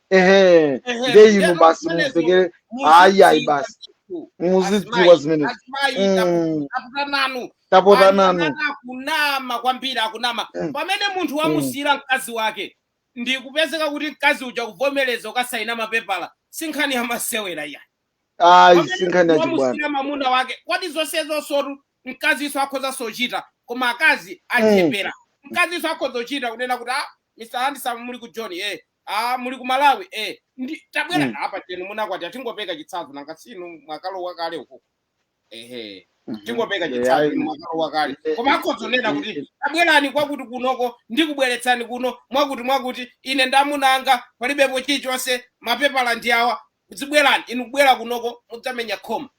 S2: ehe Ehe, nde ndiye inu basi zimenezo mumvekere ayi ayi muzidziwa basi ndithu muzidziwa azimayi zimenezo azimayi tapu- Mm, tapota nanu tapota anthu nanu amene akunama
S1: kwambiri akunama Mm, pamene munthu mm, wamusiyira mkazi wake ndi kupezeka kuti mkazi uja kuvomereza ukasayina mapepala si nkhani ya masewera iya ayi pamene
S2: sinkhani munthu yachibwana wamusiyira
S1: mamuna wake kodi zonse zonsotu mkazinso akhoza sochita koma akazi Mm, achepera mkazinso akhoza kuchita kunena kuti ah mr handsome muli ku joni eh Ah, muli ku Malawi eh. Ndi tabwera Mm. apa tenu munakwatira tingopeka chitsanzo nanga sinu mwakalowa kale uko. Ehe. Mhm. Tingopeka Eh, chitsanzo ayi. inu mwakalowa kale. Eh, Koma akhoza kunena eh, kuti eh, tabwerani kwakuti kunoko ndikubweretsani kuno mwakuti mwakuti ine ndamunanga palibepo chilichonse mapepala ndi awa dzibwerani inu kubwera kunoko mudzamenya khoma.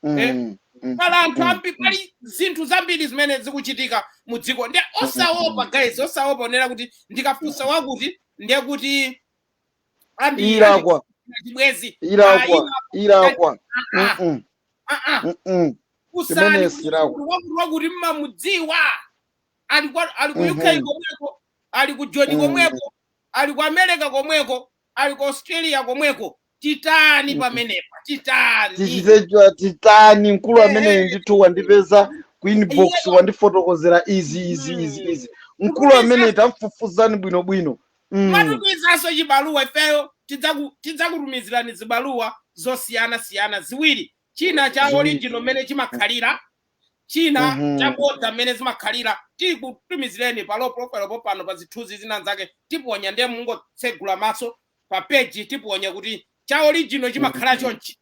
S1: mm, eh, mm, mm, pali anthu mm, ambiri mm. pali zinthu zambiri zimene zikuchitika mu dziko ndiye osaopa guys osaopa onena kuti ndikafunsa wakuti ndiye kuti andi
S2: ilakwa chibwezi
S1: Ah, ilakwa
S2: ilakwa ah, ah, Mm-mm, ah,
S1: ah. mm-mm. funsani Chimene kuti silakwa. munthu wakuti wakuti mmamudziwa ali kwa- ali ku uk Mhm. komweko ali ku joni Mhm. komweko ali ku america komweko ali ku australia komweko titani pamenepa titani tichite cha-
S2: titani mkulu ameneyi Ehe. ndithu wandipeza ku inbox Iyeyo. wandifotokozera izi izi izi izi mkulu ameneyi tamfufuzani bwinobwino Mm. mwatumizanso
S1: chibaluwa ifeyo tidzaku- tidzakutumizirani zibaluwa zosiyana siyana ziwiri china cha Ziwiri. original mmene chimakhalira china Mhm. cha bodza mmene zimakhalira tikutumizireni pa low profile popano pa zithunzi zina zake tiponya ndiye mungotsegula maso pa page tiponya kuti cha original chimakhala chonchi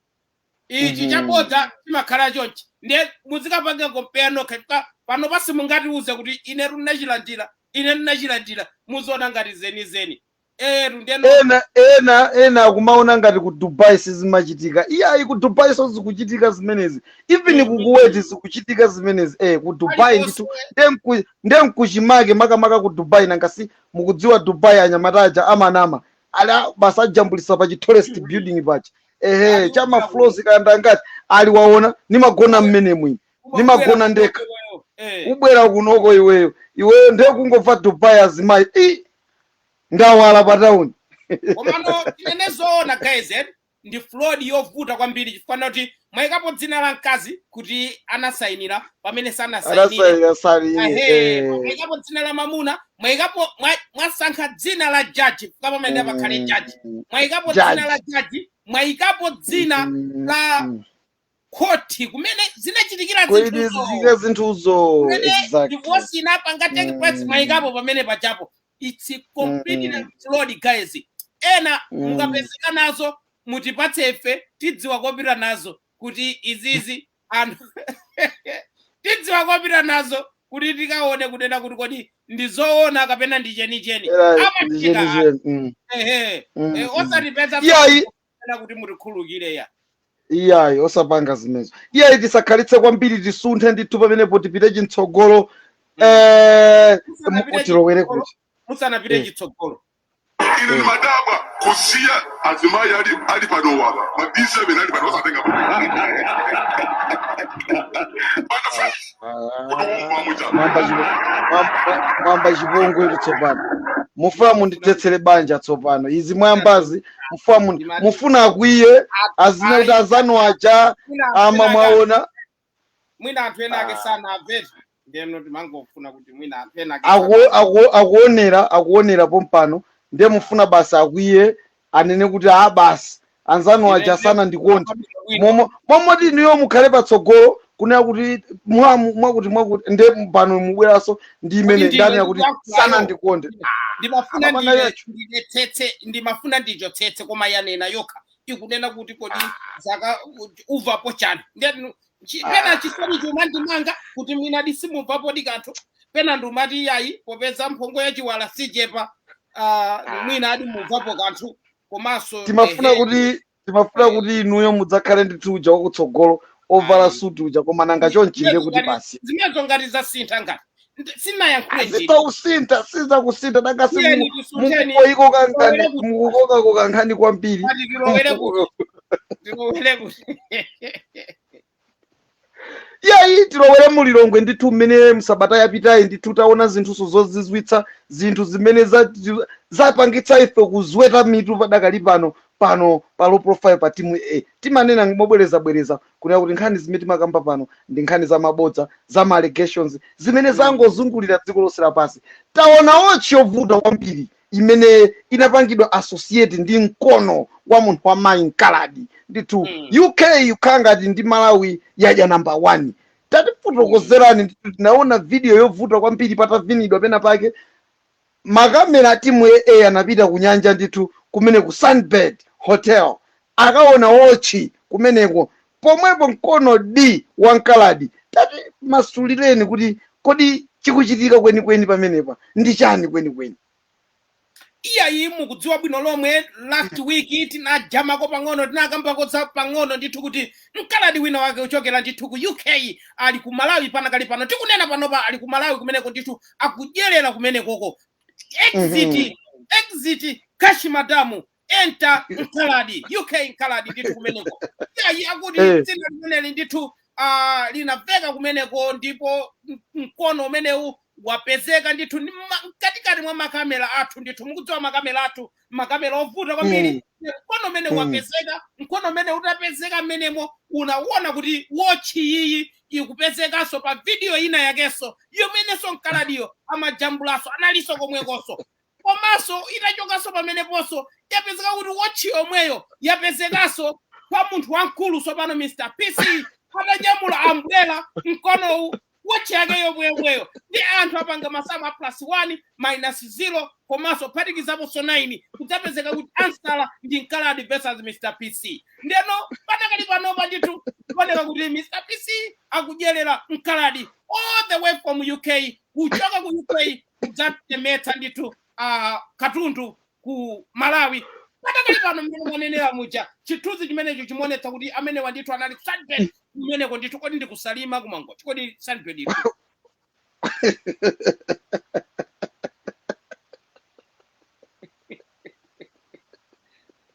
S1: ichi chabodza chimakhala chonchi ndiye muzikapanga compare nokha chifukwa pano pansi mungatiuze kuti ine ndinachilandira ine ndinachilandira muziona ngati zenizeni eyetu ndiye no- ena
S2: ena ena akumaona ngati ku dubai sizimachitika iyayi ku dubai so zikuchitika zimenezi even ku kuweti zikuchitika zimenezi eh ku dubai ndithu nde nku- nde nkuchimake makamaka ku dubai nanga si mukudziwa dubai anyamata aja amanama ali a- basi ajambulisa pa chi tallest building paja ehe cha ma floors kaya angati ali waona nimagona mmenemu ine nimagona ndekha ubwera kunoko iweyo iweyo ndiye kungomva Dubai azimayi i ndawala pa tauni komano
S1: tinene zoona guys eh? ndi fraud yovuta kwambiri chifukwa choti mwaikapo dzina la mkazi kuti anasainira pamene sanasainire anasaina sali Ahe, eh, mwaikapo dzina la mamuna mwaikapo mwa- mwasankha dzina la jaji chifukwa pamene mm, pakhale jaji mwaikapo dzina la judge jaji mwaikapo dzina mm, la mm. khoti kumene zinachitikira kuti zinthuzo zizike zinthuzo
S2: kumene exactly divorce
S1: inapanga take place Mm. mwaikapo pamene pachapo it's completely Mm. fraud guys ena Mm. mukapezeka nazo mutipatse ife tidziwa kopita nazo kuti izizi anthu tidziwa kopita nazo kuti tikaone kunena kuti kodi ndi zoona kapena ndi chenicheni Era ndi amachita chenicheni. Mm. ehe Mm, Eh, mm. osatipeza Iyayi, kapena kuti mutikhululukire ya
S2: iyayi osapanga zimenezo iyayi tisakhalitse kwambiri tisunthe ndithu pamenepo tipite chitsogolo eh, Musanapite mu- tilowere chitsogolo. kuti musanapite Eh.
S1: chitsogolo ine
S3: ndimadabwa kusiya azimayi ali ali panowa ma d7 ali panowa osatenga mwayamba chipo-
S2: mwayamba- mwayamba chipongwe kuti tsopano mufuna mundithetsere banja tsopano izi mwayambazi mufuna Ndimati- mufuna akwiye azinena kuti azanu aja Mwina anthu ama ena ake- mwaona mwina
S1: anthu ena ake Ah. sanamvera ndeno timangofuna kuti mwina anthu ena ake aku- sanamvera. aku- akuonera
S2: akuonera pompano ndiye mufuna basi akwiye anene kuti a basi anzanu aja Ine- sanandikonde Bwino. momo momoti inuyo mukhale patsogolo kunena kuti mwa- mwakuti mwakuti nde pano mubweranso ndi Kodi imene ndine ndani yakuti ndikuyankhulayo? sanandikonde ndimafuna Amapanga ndine yacho. ndinetsetse
S1: ndimafuna ndichotsetse koma yanena yokha ikunena kuti kodi ukumvapo chani ndiyani chi- pena chisoni chomwe ndimangoti kuti mwina nde simumvapodi kanthu pena ndimati iyayi popeza mphongo ya chiwala sichepa ah, mwina nde mumvapo kanthu komanso timafuna ehe, kuti
S2: timafuna kuti inuyo mudzakhale ndithu uja wakutsogolo ovala suti uja koma nanga chonchinde kuti basi zimezo ngati zasintha
S1: ngati Ndi- sindinayankhule nditi azitausinta
S2: sizakusintha nanga si Tiyeni tisinthe ndiye mukukokako kankhani Tilowere kuti- mukukokako kankhani kwambiri Ati tilowere kuti tilowere kuti yayi tilowere mulilongwe ndithu mmene msabata yapitayi ndithu taona zinthunso zozizwitsa zinthu zimene za- zapangitsa ife kuzweta mitu padakali pano pano pa low profile pa timu a timanena mobwerezabwereza kunena kuti nkhani zimene timakamba pano ndi nkhani za mabodza za ma allegations zimene zangozungulira dziko lonse lapansi taona wotchi yovuta kwambiri imene inapangidwa associate ndi mkono wa munthu wa mayi mkaladi ndithu Mm. uk ikukhala ngati ndi malawi yadya namba 1 tatifotokozerani ndithu tinaona video yovuta kwambiri patavinidwa pena pake makamera a timu ya a anapita ku nyanja ndithu kumene ku sunbird hotel akaona wotchi kumeneko pomwepo mkono di wa mkaladi tatimasulireni kuti kodi chikuchitika kwenikweni pamenepa ndi chani kwenikweni iyayi
S1: mukudziwa bwino lomwe last week tinadyamako pang'ono tinakambako za pang'ono ndithu kuti mkaladi wina wake kuchokera ndithu ku uk ali ku malawi padakali pano tikunena panopa ali ku malawi kumeneko ndithu akudyerera kumenekoko exit exit kashi madamu enter mkaladi uk mkaladi ndithu kumeneko iyayi akuti Eh. dzina limeneli ndithu ah, linaveka kumeneko ndipo m- mkono umenewu wapezeka ndithu ndi ma- mkatikati mwa makamera athu ndithu mukudziwa makamera athu makamera ovuta kwambiri mkono umene Mm. wapezeka mkono umene utapezeka mmenemo unawona kuti wotchi iyi ikupezekanso pa vidiyo ina yakenso yomenenso mkaladiyo amajambulanso analinso komwekonso komanso itachokanso pameneponso yapezeka kuti wotchi yomweyo yapezekanso kwa munthu wamkulu tsopano mr pc atanyamula ambulera mkonowu wotchi yake yomweyomweyo ndi anthu apanga masamu a plus 1 minus 0 komanso kuphatikizaponso 9 kudzapezeka kuti ansala ndi mkaladi versus mr pc ndeno padakali panopa ndithu kuoneka kuti mr pc akudyerera mkaladi all the way from uk kuchoka ku uk kudzatilemetsa ndithu uh, katundu ku malawi padakali pano mmene mwanenera muja chithunzi chimenecho chimaonetsa kuti amenewa ndithu anali sunbird kumeneko ndithu kodi ndi ku salima ku mangochi kodi sunbird iri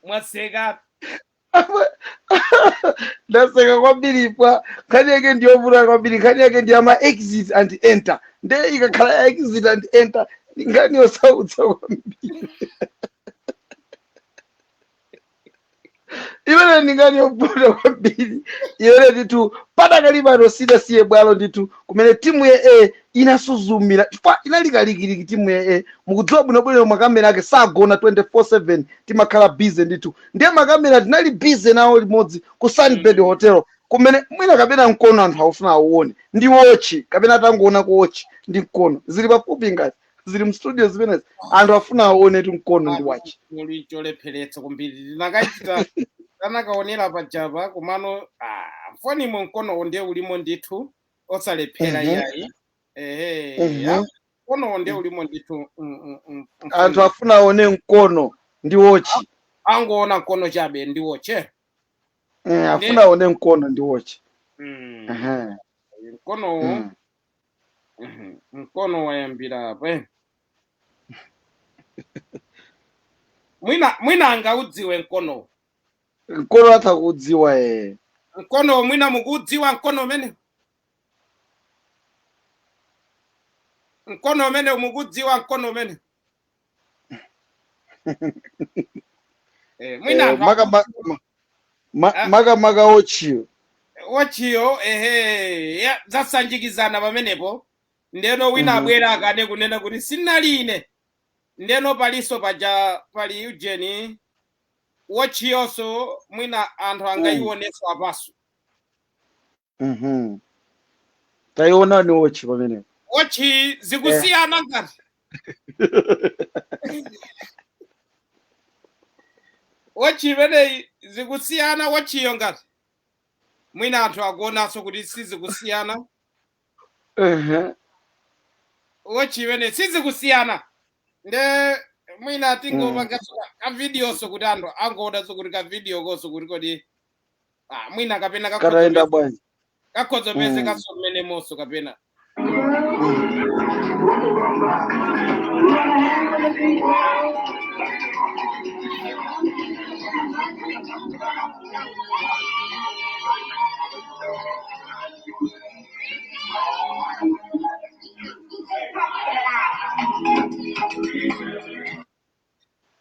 S1: mwaseka
S2: ndaseka kwambiri pa nkhani yake ndiyovuta kwambiri nkhani yake ndi ya ma exit and enter nde ikakhala ya exit and enter ndi nkhani yosautsa kwambiri imene ndi nkhani yovuta kwambiri imene ndithu padakali pano sidasiye bwalo ndithu kumene timu ya a inasuzumira chifukwa inali kalikiliki timu ya a mukudziwa bwinobwino makamera ake sagona 24/7 timakhala busy ndithu ndiye makamera tinali busy nawo limodzi ku sunbird Mm. hotel kumene mwina kapena mkono anthu akufuna auone ndi wochi kapena tangoona kuti wochi ndi mkono zili pafupi ngati zili mstudio zimenezi anthu afuna aone kuti mkono ndi wochi choli
S1: cholepheretsa kwambiri ndinakachita anakaonera pajapa komano ah, mfonimo mkonowo ndiye ulimo ndithu osalephera Mhm. iyayi ehe Mhm. apo mkono nde ulimo ndithu mm, mm, mm,
S2: anthu mfundo afuna aone mkono ndi wochi
S1: angoona mkono chabe ndi wochi Mm, nde
S2: afuna aone mkono ndi wochi mm, Aha, mkonowo mm. mhm,
S1: mkono wayambira apa eh. mwina mwina angaudziwe mkonowo mkono atha kuudziwa
S2: ee mkonowo
S1: mwina mukuudziwa mkono umene mkono umenewu mukudziwa mkono umenewu Eh, mwina Eh, anthu maka- ma- ma- ma- Ah.
S2: maka maka wochiyo
S1: wochiyo ehe ya- zasanjikizana pamenepo ndeno wina Mhm. abwera akane kunena kuti sinali ine ndeno palinso paja pali ujeni wochiyonso mwina anthu angayionenso apanso
S2: Mhm. Taionani wochi pamenepo. wochi
S1: zikusiyana ngati wochi imeneyi zikusiyana wochiyo ngati mwina anthu akuonanso kuti sizikusiyana Ehe. wochi imeneyi sizikusiyana nde mwina tingopanga kavidiyonso kuti anthu angoonanso kuti kavidiyokonso kuti kodi ah, mwina kapena kakhoza katayenda peze- bwanji
S2: kakhoza peze Mm.
S1: kaso mmene moso kapena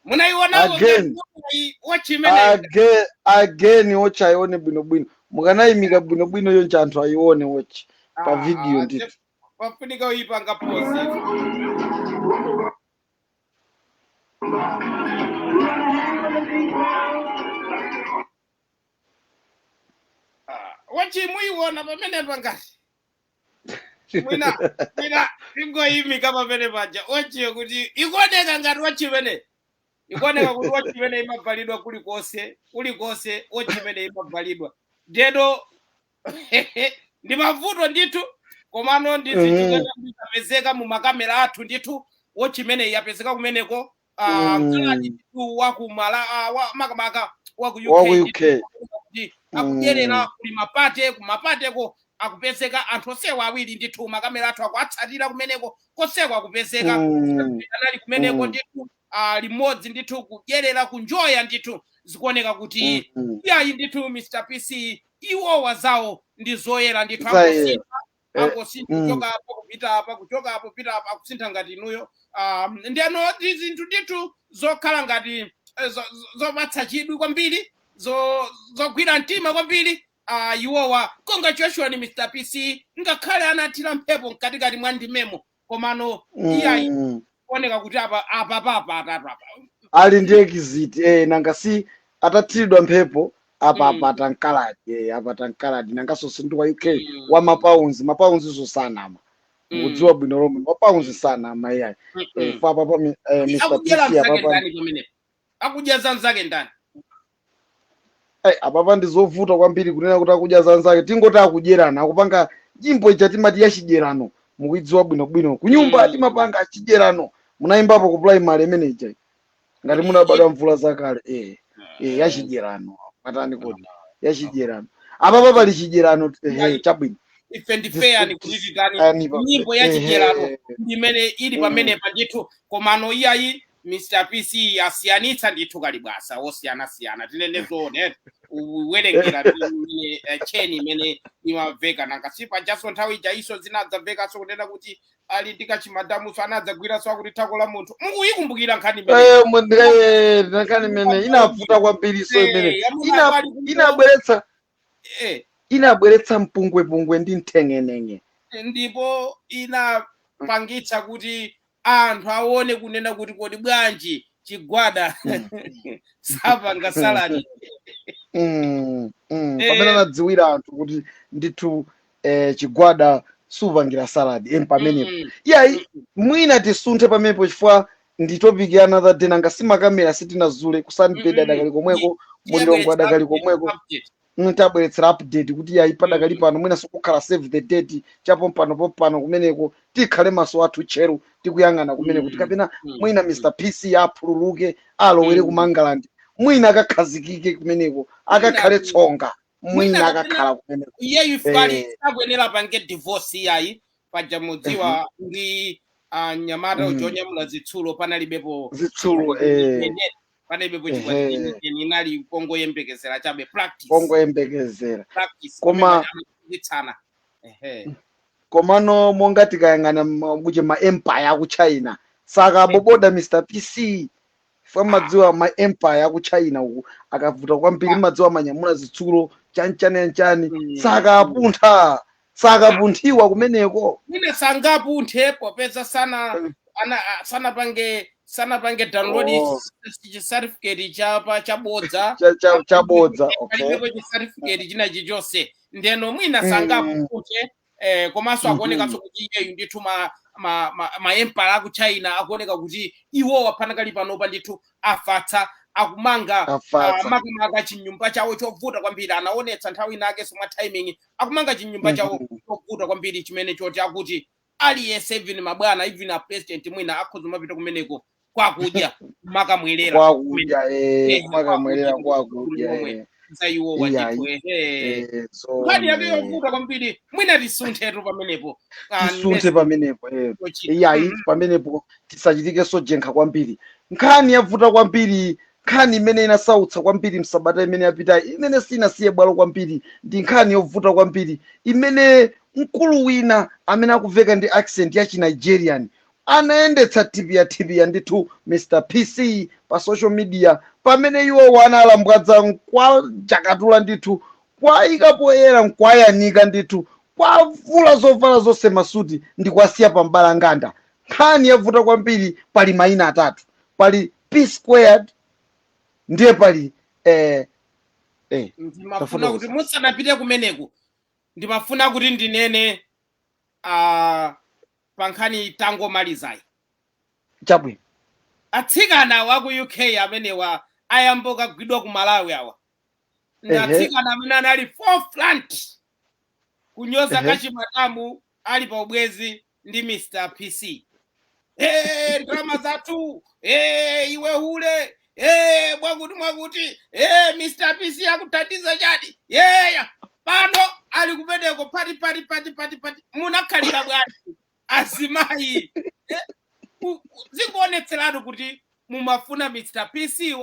S2: munaiwonapo Again. ngati wotchi imeneyo Age- again watch ayione bwinobwino mukanayimika bwinobwino yonse anthu ayione watch pa video ndithu ndithu pafunika uyipanga
S1: posi wotchi muyiwona pamenepa ngati mwina mwina tingoyimika pamene paja wotchiyo kuti ikuoneka ngati wotchi imene ikuoneka kuti wotchi imene imabvalidwa kulikonse kulikonse wotchi imene imabvalidwa ndeno ndi mavuto ndithu komano ndi zinthu Mhm. zoti zikapezeka mu makamera athu ndithu wotchi imene yapezeka kumeneko ah, Mm. kaladi ndithu wa ku mala ah, wa- makamaka wa ku Wa ku uk UK.
S2: kuti akudyerera
S1: Mm. kuli mapate kumapateko akupezeka anthu onsewa awiri ndithu makamera athu akuatsatira kumeneko konseko akupezeka Mm. anali kumeneko Mm. ndithu ah, limodzi ndithu kudyerera kunjoya ndithu zikuoneka kuti Mm. iyayi ndithu mr pc iwowa zawo ndi zoyera ndithu Zaye. angosintha Eh, angosintha mm. kuchoka apa kupita apa kuchoka apa kupita apa akusintha ngati inuyo um, ndeno ndi zinthu ndithu zokhala ngati eh, zo- zo- zopatsa chidwi kwambiri zo- zogwira mtima kwambiri uh, iwowa congratulations mr pc ngakhale anathira mphepo mkatikati mwa ndimemo komano iyayi Mm. kuoneka kuti apa apa papa apa ali
S2: ndi exit eh, nanga si atathiridwa mphepo apa Mm. apata mkaladi eh, apata mkaladi nangaso si ndi wa uk Mm. wa mapounds mapounds zosanama Mm. mukudziwa bwino lomwe mapounds sanama iyayi Mm, eh, mm. fa papa mi- eh, mr akudyera pc mzake apapa ndani pamenepo
S1: akudya za mzake ndani
S2: Ai, apapa ndi zovuta kwambiri kunena kuti akudya za anzake tingoti akudyerana akupanga nyimbo ija timati ya chidyerano mukuidziwa bwinobwino kunyumba Mm. timapanga chidyerano munayimbapo ku primary imene ija ngati munabadwa mvula zakale eh, eh, ya chidyerano matani kodi ya chidyerano apapa pali chidyerano ehe chabwino ife ndife
S1: ndani kuti titani Ani pa- nyimbo ya ehe, chidyerano imene ili pamenepa ndithu komano iyayi Mr. PC asiyanitsa ndithu kalibwasa wosiyanasiyana tinene zoona eti uwerengera imene eh, tcheni imene imamveka nanga si pajaso nthawi ijayinso zinadzamvekanso kunena kuti ali ndi kachimadamuso anadzagwiranso akuti thako la munthu mukuyikumbukira nkhani imeneyi? Eh, mu- eh, nkhani
S2: imene inavuta kwambiri so imene Eh, amuna Ina- ali kumbuyo. inabweretsa Eh, inabweretsa mpungwepungwe ndi mteng'eneng'e ndipo
S1: inapangitsa kuti anthu aone kunena kuti kodi bwanji chigwada sapanga
S2: saladi Mm, mm. Eh. pamene anadziwira anthu kuti ndithu eh, chigwada supangira salad em pamenepo Mm. iyayi mwina tisunthe pamenepo chifukwa ndi topic ya another day nanga simakamera sitinazule ku seedbed Mm-mm. adakali komweko ku Lilongwe adakali komweko Mm, tabweretsere update kuti yayi padakali Mm. pano mwinanso kukhala save the date chapompanopompano kumeneko tikhale maso athu tcheru tikuyang'ana kumeneko Mm. kuti kapena Mm. mwina Mm. mr pc aphululuke alowere Mm. ku mangalandi mwina akakhazikike kumeneko akakhale Mwina- tsonga mwina mwina kapena- akakhala kumeneko iyeyu ifali
S1: Eh. sakuyenera apange divorce iyayi paja mumadziwa ndi ah, mnyamata Mm. uja onyamula zitsulo panalibepo zitsulo eh.
S2: Yenera.
S1: panalibepo chikwati ehe inali kongoyembekezera chabe practice kongoyembekezera practice pamene koma paja
S2: amachititsana ehe komano monga tikayang'ana ma- kuti ma empire aku china sakaboboda mr pc fwe ah mumadziwa ma empire aku china uku akavuta kwambiri ah mumadziwa amanyamula zitsulo chanichani chanichani mm mm sakapuntha sakapunthiwa kumeneko mwina
S1: sangapunthe popeza sana ana a- sanapange sanapange download Oh. chi- chi certificate cha pa chabodza Cha- cha- chabodza
S2: okay palibepo chi certificate
S1: china chichonse ndiyeno mwina Mm. sangapunthe eh, komanso Mhm. akuonekanso kuti iyeyu ndithu ma ma ma, ma empire aku China akuoneka kuti iwowo apanakali panopa ndithu afatsa akumanga afatsa makamaka chinyumba chawo chovuta kwambiri anaonetsa nthawi inakenso mwa timing akumanga chinyumba chawo Mhm. chovuta kwambiri chimene choti akuti aliyense even mabwana even a president mwina akhoza kumapita kumeneko kwakudya makamwerera kwakudya eh, Eh, makamwerera kwakudya, kwakudya momwe. eh, za iwo Iya, wandithu ehe eh, so, nkhani yake eh, yovuta kwambiri mwina tisunthetu pamenepo Ah, tisunthe next pamenepo eh. yochita.
S2: iyayi Mhm. pamenepo tisachitenso jenkha kwambiri nkhani yovuta kwambiri Nkhani imene inasautsa kwambiri m'sabata imene yapitayi, imene sinasiye bwalo kwambiri, ndi nkhani yovuta kwambiri imene mkulu wina amene akuveka ndi accent ya chi Nigerian anayendetsa thipiyathipiya ndithu Mr PC pa social media pamene iwowo analambwadza nkuwatakatula ndithu kuwaika poyera nkuwayanika ndithu kuwavula zovala zonse masuti ndikuwasiya pa mbalambanda. Nkhani yovuta kwambiri pali maina atatu. pali p squared ndiye pali eh, eh,
S1: ndimafuna Tafuta kuti kusa- musanapite kumeneku ndimafuna kuti ndinene ah, pa nkhani tangomalizayi chabwino atsikana a ku uk amenewa ayamba kagwidwa ku malawi awa ndi Ehe. atsikana amene anali forefront kunyoza Ehe. kachimadamu ali pa ubwenzi ndi mr pc hey, ndalama zathu hey, iwe hule hey, mwakuti mwakuti hey, mr pc akuthandiza chadi yeya pano ali kumeneko pati pati pati pati pati munakhalira bwanji azimayi Eh, ku- ku- zikuonetseratu kuti mumafuna mr pc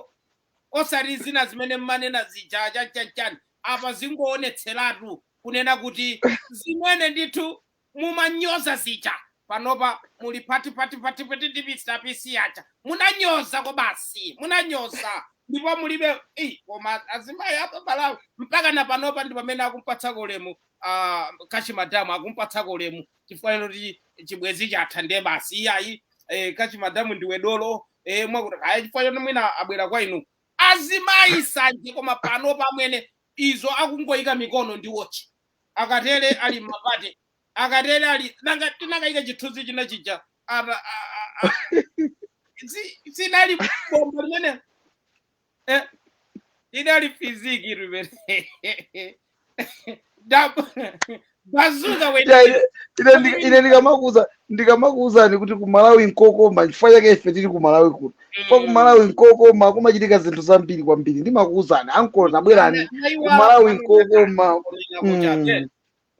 S1: osati zina zimene mmanena zija chani chani chani apa zingoonetseratu kunena kuti zimene ndithu mumanyoza zija panopa muli pati pati pati pati ndi Mr PC aja munanyoza kwabasi munanyoza ndipo mulibe ei koma azimayi apa Malawi mpaka na panopa ndi pamene akumpatsako ulemu ah, kachi madamu akumpatsako ulemu chifukwa choti chibwezi chatha ndiye basi iyayi eh, kachi madamu ndiwe dolo eh, mwakuti ayi chifukwa choti mwina abwera kwa inu azimayi sanje koma panopa amwene izo akungoyika mikono ndi wochi akatere ali mmapate akatere ali nanga tikanayika chithunzi china chija apa a- a- a- si- sinali bomba limene eh, inali fiziki limene Dab- bazuka wene
S2: ine ndikamakuza ndikamakuwuzani kuti ku malawi nkokoma chifukwa chake ife tili ku malawi kuno chifukwa ku malawi nkokoma kumachitika zinthu zambiri kwambiri ndimakuwuzani ankolo tabwerani ku malawi nkokoma Mm.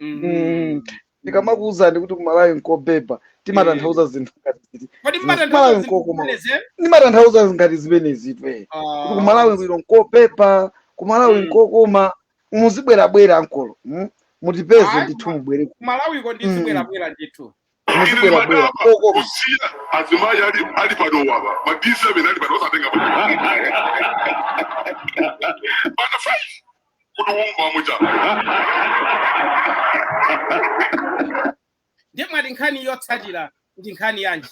S2: Mm. ndikamakuwuzani kuti ku malawi nkobeba timatanthauza zinthu ngati ziti kodi Ku Malawi mmatanthauza nkokoma zimeneze ndimatanthauza ngati zimenezi iwe kuti ku malawi kuno nkobeba ku malawi Mm. nkokoma muzibwerabwera ankolo mm? mutipeze Ayi, ndithu koma- mubwere ku malawi ko
S1: ndizibwerabwera ndithu
S2: muzibwerabwera koko kusiya
S3: azimayi ali ali panowa ba ma d7 ali panowa satenga bana five kuti umva
S1: muja ndiye mwati nkhani yotsatira ndi nkhani yanji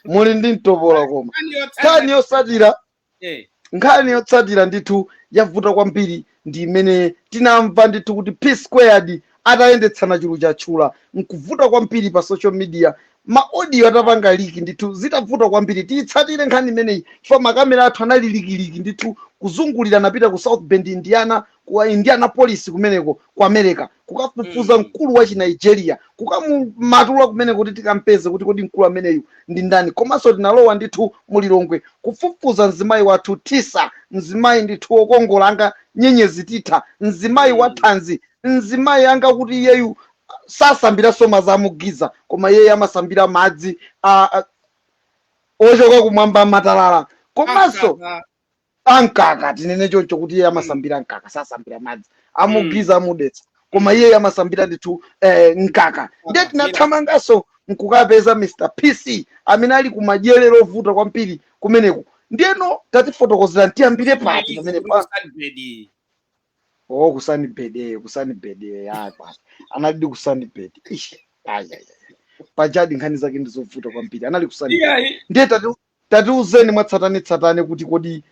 S1: muli
S2: ndi mtopola koma nkhani yotsatira Eh, nkhani yotsatira ndithu yavuta kwambiri ndi imene tinamva ndithu kuti p squared atayendetsana chulu chatchula nkuvuta kwambiri pa social media maaudio atapanga liki ndithu zitavuta kwambiri tiyitsatire nkhani imeneyi chifukwa makamera athu anali likiliki ndithu kuzungulira anapita ku south bend indiana ku Indianapolis kumeneko ku America kukafufuza Mm. mkulu wa Chinigeria kukamumatula kumeneko kuti tikampeze kuti kodi mkulu ameneyu ndi ndani komanso tinalowa ndithu mu Lilongwe kufufuza mzimayi wathu Tisa mzimayi ndithu wokongola anga nyenyezi Tisa mzimayi wa Mm. thanzi mzimayi anga kuti iyeyu sasambira soma za mugiza koma iyeyo amasambira madzi a, a, ochoka kumwamba matalala komanso Asasa. ankaka tinene choncho kuti iye amasambira mkaka sasambira madzi amugiza amudetsa koma iye amasambira ndithu eh, mkaka ndiye tinathamanganso nkukapeza mr pc amene ali kumadyerero ovuta kwambiri kumeneko ndiyeno tatifotokozera ntiyambire pati pamene ku Sunbird. oh ku Sunbird ku Sunbird ah basi anali ku Sunbird ish ayi ayi pajadi nkhani zake ndizovuta kwambiri anali ku Sunbird Iyayi. ndiye tati Tatiuzeni mwatsatanetsatane kuti kodi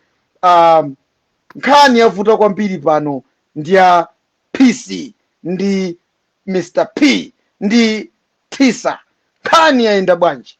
S2: um, nkhani yavuta kwambiri pano ndi ya PC ndi Mr P ndi Tisa, nkhani yayenda bwanji?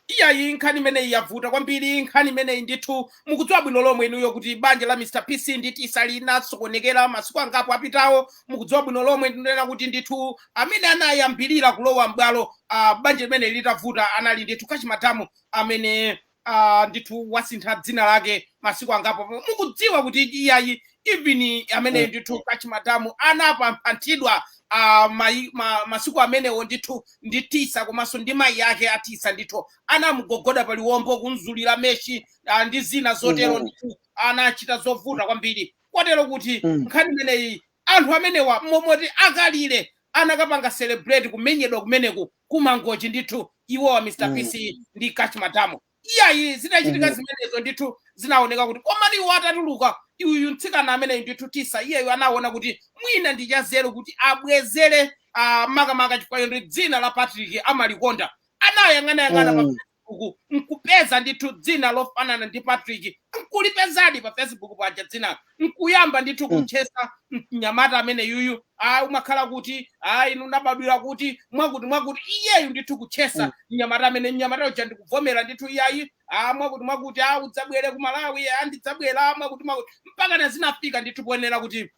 S1: iyayi nkhani imeneyi yavuta kwambiri nkhani imeneyi ndithu mukudziwa bwino lomwe inuyo kuti banja la mr pc ndi tisa linasokonekera masiku angapo apitawo mukudziwa bwino lomwe ndinena kuti ndithu amene anayambirira kulowa m'bwalo uh, banja limeneli litavuta anali ndithu Cash Madam amene uh, ndithu wasintha dzina lake masiku angapo mukudziwa kuti iyayi even ameneyu ndithu Cash Madam anapamphanthidwa uh, mai, ma, masiku amenewo ndithu ndi tisa komanso ndi mayi ake a Tisa ndithu anamugogoda pa liwombo kumzulira meshi uh, ndi zina zotero Mhm. ndithu anachita zovuta kwambiri kotero kuti Mm. nkhani imeneyi Anthu amenewa momoti a Kalire anakapanga celebrate kumenyedwa kumeneku ku Mangochi ndithu iwowa Mr Mm. PC ndi Cash Madam. Iyayi zinachitika Mhm. zimenezo ndithu zinaoneka kuti komatu iwo atatuluka uyu mtsikana ameneyu ndithu Tisa iyeyu anaona kuti mwina ndi chazeru kuti abwezere ah, makamaka chifukwa choti dzina la Patrick amalikonda anayang'anayang'ana pa Mm. facebook nkupeza ndithu dzina lofanana ndi patrick nkulipezadi pa facebook paja dzina nkuyamba ndithu Mm. kutchesa mnyamata ameneyuyu ayi umakhala kuti ayi inu munabadwira kuti mwakuti mwakuti iyeyu ndithu kutchesa Mm. mnyamata ameneyu mnyamata uja ndikuvomera ndithu iyayi a mwakuti mwakuti a udzabwere ku malawi a ndidzabwera mwakuti mwakuti mpakana zinafika ndithu poonera kuti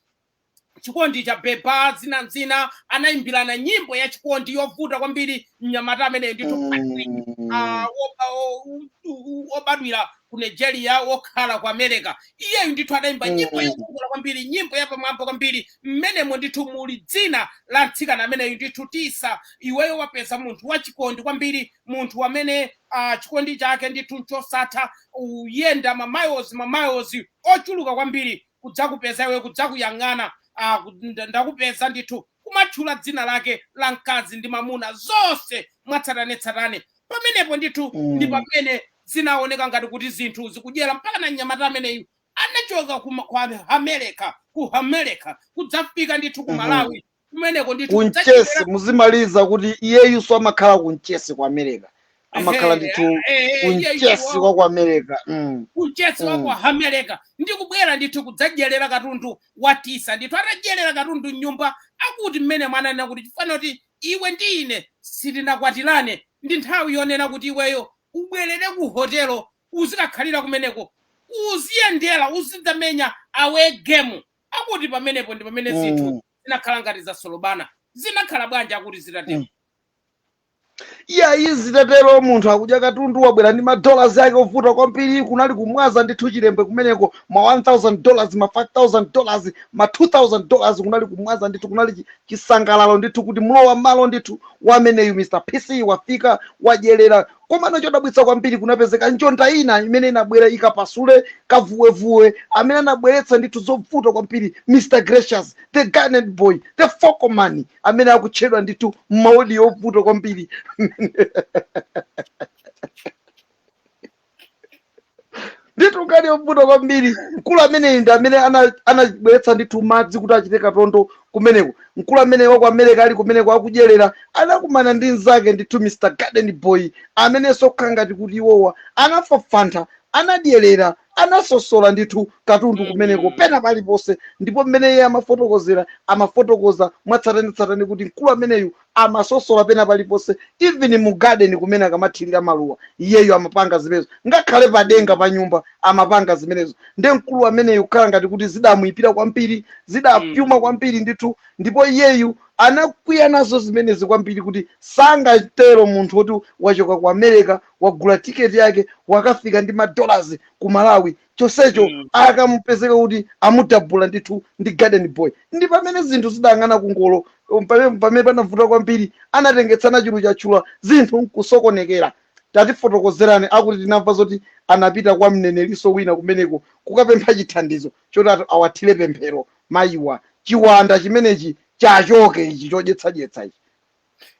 S1: chikondi cha beba zina ndi zina anayimbirana nyimbo ya chikondi yovuta kwambiri mnyamata ameneyu ndithu Mm. ah, woba- wo- u- u- wobadwira ku nigeria wokhala ku america iyeyu ndithu adayimba nyimbo Mm. yovuta kwambiri nyimbo yapamwamba kwambiri mmenemo ndithu muli dzina la mtsikana ameneyu ndithu tisa iweyo wapeza munthu wachikondi kwambiri munthu amene ah, chikondi chake ndithu chosatha uyenda mamiles mamiles ochuluka kwambiri kudzakupeza iwe, kudzakuyang'ana, ah, kud- nda- ndakupeza ndithu, kumatchula dzina lake la mkazi ndi mamuna, zonse mwatsatanetsatane. Pamenepo ndithu ndi Mm. pamene zinaoneka ngati kuti zinthu zikudyera mpakana mnyamata ameneyu anachoka kuma- ku America ku America kudzafika ndithu ku Mhm. Malawi kumeneko ndithu kunchesi
S2: muzimaliza kuti iyeyuso amakhala kunchesi ku america amakhala Ehe, ndithu eh, eh, iyeyu kunchesi wa- wa ku america mm. kuchesi
S1: Mm. wa ku america ndi kubwera ndithu kudzadyerera katundu wa tisa ndithu atadyerera katundu mnyumba akuti mmene mwananena kuti chifana kuti iwe ndi ine sitinakwatirane ndi nthawi yonena kuti iweyo ubwerere ku hotelo uzikakhalira kumeneko uziyendera uzidzamenya away game akuti pamenepo ndi pamene zinthu Mm. zinakhala ngati zasolobana zinakhala bwanji akuti zitatero Mm. iyayi
S2: zitatero munthu akudya katundu wabwera ndi madollars ake ovuta kwambiri kunali kumwaza ndithu chilembe kumeneko ma 1000 dollars ma 5000 dollars ma 2000 dollars kunali kumwaza ndithu kunali chi- chisangalalo ndithu kuti mlowa mmalo ndithu wameneyu mr pc wafika wadyerera komano chodabwitsa kwambiri kunapezeka njonda ina imene inabwera ikapasule kavuwevuwe amene anabweretsa ndithu zovuta kwambiri mr gracious the garnet boy the fokoman amene akutchedwa ndithu maodi yovuta kwambiri ndithu ngati yovuta kwambiri mkulu ameneyi ndi amene ana- anabweretsa ndithu madzi kuti achite katondo kumeneko mkulu amene wa ku america ali kumeneko akudyerera anakumana ndi mnzake ndithu mr garden boy amenenso kukhala ngati kuti iwowa anafafantha anadyerera anasosola ndithu katundu kumeneko pena paliponse ndipo mmene iye amafotokozera amafotokoza mwatsatanetsatane kuti mkulu ameneyu amasosola pena paliponse even mu garden kumene akamathirira maluwa iyeyu amapanga zimenezo ngakhale padenga pa nyumba amapanga zimenezo nde mkulu ameneyu kukhala ngati kuti zidamuipira kwambiri zidapyuma Mm. kwambiri ndithu ndipo iyeyu anakwiya nazo zimenezi kwambiri kuti sangatero munthu woti wachoka ku america wagula tiketi yake wakafika ndi madolars ku malawi chonsecho Mm. akamupezeka kuti amudabula ndithu ndi garden boy ndi pamene zinthu zidayang'ana kungolo um, pame- pamene panavuta kwambiri anatengetsana chulu chachula zinthu nkusokonekera tatifotokozerani akuti tinamva zoti anapita kwa mnenerinso wina kumeneko kukapempha chithandizo chotitu awathire pemphero mayiwa chiwanda chimenechi chichoke ichi chodyetsadyetsa ichi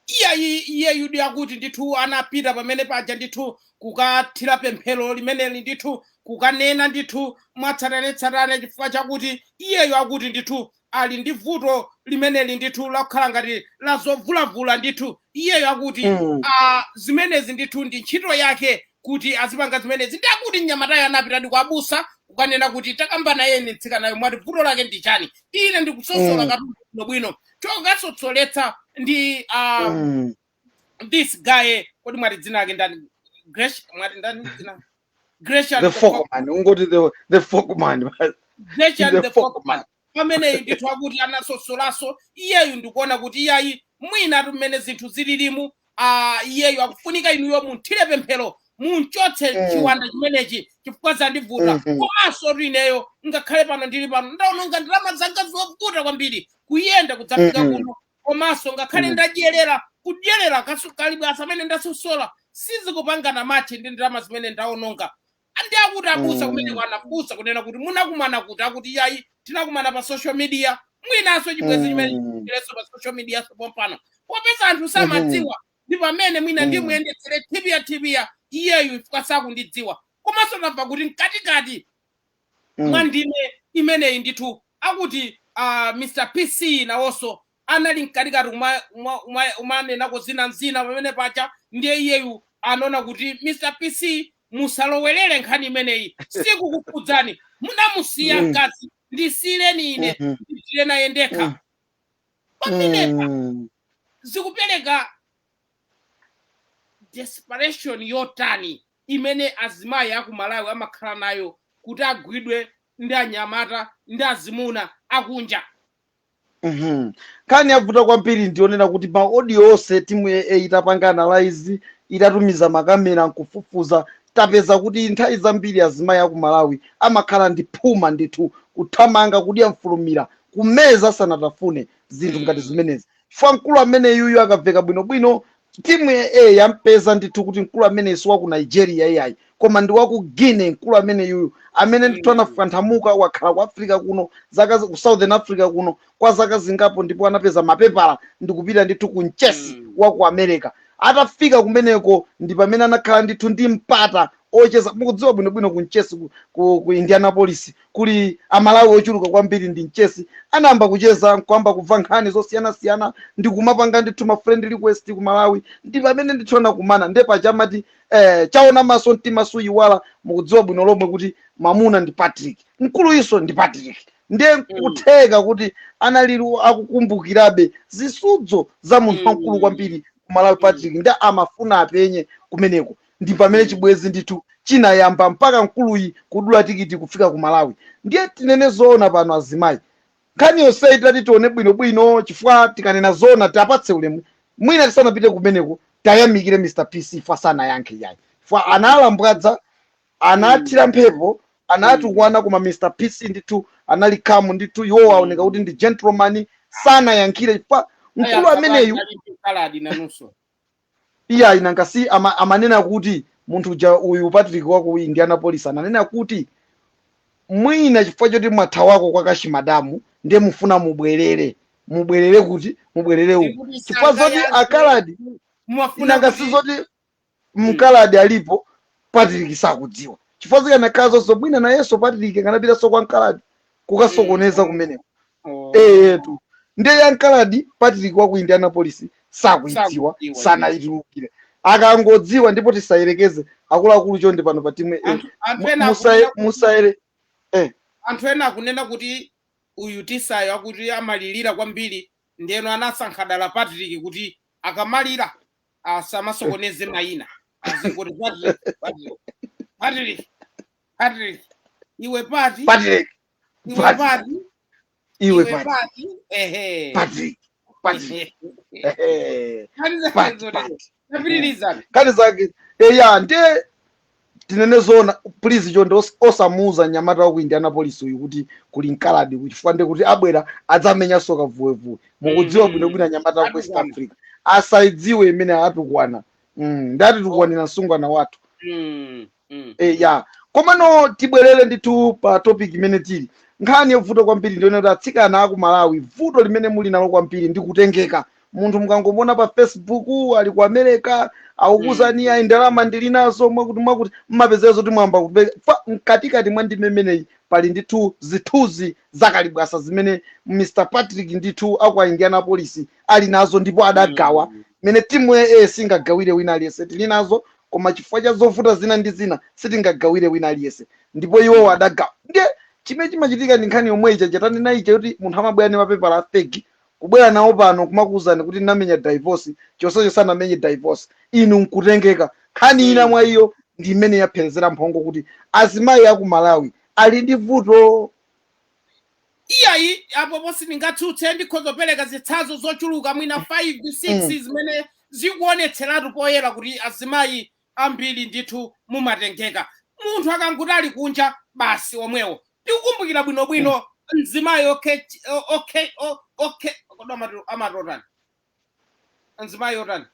S1: iyayi iyeyudi akuti ndithu anapita pamene paja ndithu kukathira pemphero limeneli ndithu kukanena ndithu mwatsatanetsatane chifukwa chakuti iyeyo akuti ndithu ali ndi vuto limeneli ndithu lakukhala ngati lazovulavula ndithu iyeyo akuti Mm. ah, zimenezi ndithu ndi ntchito yake kuti azipanga zimenezi nde akuti mnyamatayo anapitadi kwa abusa kukanena kuti takambana nayeni mtsikanayo mwati vuto lake ndi chani ine ndikusosola Mm. katundu bwinobwino chokasosoletsa ndi ah, Mm. this guy kodi mwati dzina lake ndani Gresh mwati ndani dzina Gresham the the folk folk man
S2: ungoti the, the folk man Gresham the
S1: the folk folk man man pamene ndithu akuti anasosolaso iyeyu ndikuona kuti iyayi mwinatu mmene zinthu zililimu ah, iyeyo akufunika inuyo mumuthire pemphero mumchotse Mm. chiwanda chimenechi chifukwa zandivuta Mhm. komanso kuti ineyo ngakhale pano ndili pano ndaononga ndalama zanga zovuta kwambiri kuyenda kudzafika Mhm. kuno komanso ngakhale Mhm. ndadyerera kudyerera kasu- kalibwasa amene ndasosola sizikupangana mathe ndi ndalama zimene ndaononga andi akuti abusa kumene Mm. kwanabusa kunena kuti munakumana kuti akuti iyayi tinakumana pa social media mwinanso chibwezi chimene Mm. chileso pa social media pompano popeza anthu samadziwa ndi pamene mwina Mm. ndimuyendetsere tibia tibia iyeyu chifukwa sakundidziwa komanso tamva kuti mkatikati Mm. mwa ndime imeneyi ndithu akuti uh, mr pc nawonso anali mkatikati kuma, kuma, kuma, kumanenako zina ndi zina pamene paja ndiye iyeyu anaona kuti mr pc musalowerere nkhani imeneyi sikukukhudzani munamusiya Mm. mkazi ndisiyireni ine Mhm. ndipitire naye ndekha Mm. pamenepa Mm. zikupereka desperation yotani imene azimayi aku malawi amakhala nayo kuti agwidwe ndi anyamata ndi azimuna akunja Mhm.
S2: nkhani yavuta kwambiri ndiyonena kuti ma audio onse timu ya a itapanga analyze itatumiza makamera nkufufuza tapeza kuti nthawi zambiri azimayi aku malawi amakhala ndi phuma ndithu kuthamanga kudya mfulumira kumeza sanatafune zinthu ngati zimenezi chifukwa mkulu amene yuyu akaveka bwinobwino Timu ya A yampeza ndithu kuti mkulu ameneyi si wa ku Nigeria iyayi koma ndi wa ku Guinea mkulu ameneyuyu amene ndithu Mm. anafukanthamuka wakhala ku Africa kuno zaka zi- ku Southern Africa kuno kwa zaka zingapo ndipo anapeza mapepala ndikupita ndithu ku mtchetsi Mm. wa ku America atafika kumeneko ndi pamene anakhala ndithu ndi mpata ocheza mukudziwa bwinobwino ku mtchetsi ku, ku, ku Indianapolis kuli amalawi ochuluka kwambiri ndi mtchetsi anayamba kucheza nkuyamba kumva nkhani zosiyanasiyana ndikumapanga ndithu ma friend request ku malawi ndi pamene ndithu anakumana nde paja amati eh, chaona maso mtima suyiwala mukudziwa bwino lomwe kuti mamuna ndi patrick mkuluyunso ndi patrick ndiye nkutheka kuti analili akukumbukirabe zisudzo za munthu wamkulu kwambiri ku malawi patrick nde amafuna apenye kumeneko ndi pamene chibwezi ndithu chinayamba mpaka mkuluyi kudula tikiti kufika ku malawi ndiye tinene zoona pano azimayi nkhani yonseyi titati tione bwinobwino chifukwa tikanena zoona tiapatse ulemu mwina tisanapite kumeneko tayamikire mr pc chifukwa sanayankhe iyayi chifukwa analambwadza anathira mphepo anatukwana koma mr pc ndithu anali calm ndithu iwowo aoneka kuti ndi gentleman sanayankhire chifukwa mkulu ameneyu kaladi nanunso iyayi nanga si ama, amanena kuti munthu uja uyu patrick wa ku indianapolis ananena kuti mwina chifukwa choti mwathawako kwa kachimadamu ndiye mufuna mubwerere mubwerere kuti mubwerere uku Ndikuti chifukwa zoti sangayankhe. akaladi Mwafuna nanga kuti- si zoti mkaladi alipo patrick sakudziwa chifukwa zikanakhala zonse mwina nayenso patrick akanapitanso kwa mkaladi kukasokoneza kumeneko eyetu ndiye ya mkaladi patrick wa ku indianapolis sakuidziwa Sakuidziwa. sanayitulukire akangodziwa ndipo tisayerekeze akuluakulu chonde pano pa timu A. Anthu- anthu Mu- ena musaye- akunena kuti- musayere
S1: anthu ena akunena kuti uyu tisayo akuti amalirira kwambiri ndeno anasankha dala patrick kuti akamalira asamasokoneze mayina azingoti patrick patrick patrick patrick
S2: iwe pati patrick iwe Patrick. pati iwe iwe Patrick. pati ehe Patrick. Patrick. Ehe. kani Pat- zakezo Pat. tapitiriza kani zake eya nde tinene zona please chonde os- osamuuza nyamata wa ku indianapolis uyu kuti kuli mkaladi uku chifukwa nde kuti abwera adzamenyanso kavuwevuwe mukudziwa Mhm. bwinobwino nyamata wa ku west Atukwana. africa asaidziwe imene atukwana Mm, nde atitukwanira msungwana wathu Mm. Mm. e, ya komano tibwerere ndithu pa topic imene tili nkhani yovuta kwambiri ndione kuti atsikana aku malawi vuto limene muli nalo kwambiri ndi kutengeka munthu mukangomuona pa facebook ali ku america akukuuzani ayi ndalama ndili nazo mwakuti mwakuti mmapezera zoti mwayamba kupe- fa- mkatikati mwa ndime imeneyi pali ndithu zithunzi zakalibwasa zimene mr patrick ndithu aku indianapolis ali nazo ndipo adagawa mene timu ya A singagawire wina aliyense tili nazo koma chifukwa cha zovuta zina ndi zina sitingagawire wina aliyense ndipo iwowo adagawa ndiye chimene chimachitika ndi nkhani yomwe ija ija tanena ija kuti munthu amabwera ndi mapepala a fake kubwera nawo pano kumakuwuzani kuti ndinamenya divorce chonsecho sanamenye divorce inu nkutengeka nkhani ina mwa iyo ndi imene yapherezera mphongo kuti azimayi aku malawi ali ndi vuto
S1: iyayi apopo sindingatsutse ndikhoza kupereka zitsanzo zochuluka mwina 5 6 zimene zikuonetseratu poyera kuti azimayi ambiri ndithu mumatengeka munthu akangoti ali kunja basi omwewo ndikukumbukira bwinobwino mzimayi okay okay okay kodi amati otani azimayi otani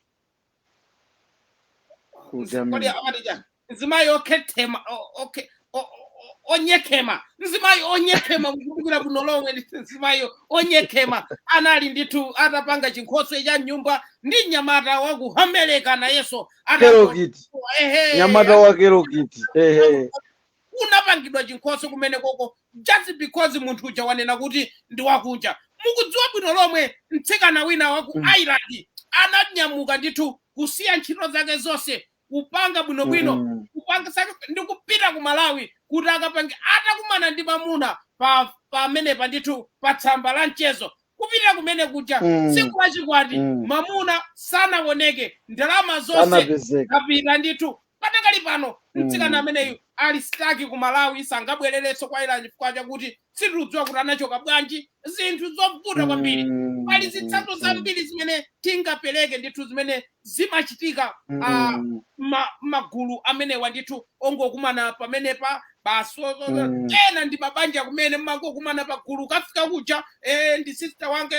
S1: kodi amati chani mzimayi okhethema o- okhe- o- o- onyekhema mzimayi onyekhema mukumbukira bwino lomwe ndi mzimayi onyekhema anali ndithu atapanga chinkhoswe cha nyumba ndi mnyamata waku America nayenso atango- kelokiti ehe nyamata
S2: wa kelokiti ehe
S1: kunapangidwa chinkhoswe kumenekoko just because munthu uja wanena kuti ndi wakunja mukudziwa bwino lomwe mtsikana wina wa ku Mm. ireland ananyamuka ndithu kusiya ntchito zake zonse kupanga bwinobwino Mm. kupanga sake ndi kupita ku malawi kuti akapange atakumana ndi mamuna pa pamenepa ndithu pa tsamba la mchezo kupita kumene kuja Mm. tsiku lachikwati Mm. mamuna sanaoneke ndalama zonse kapita ndithu Padakali pano mtsikana Mm. ameneyu ali stuck ku Malawi sangabwererenso ku Ireland chifukwa chakuti sitikudziwa kuti anachoka bwanji zinthu zovuta kwambiri Mm. pali zitsanzo Mm. zambiri zimene tingapereke ndithu zimene zimachitika ah, Mm. ma- magulu amenewa ndithu ongokumana pamenepa basi o- o- Mm. ena ndi mabanja kumene mumangokumana pagulu kafika kuja eh, ndi sister wange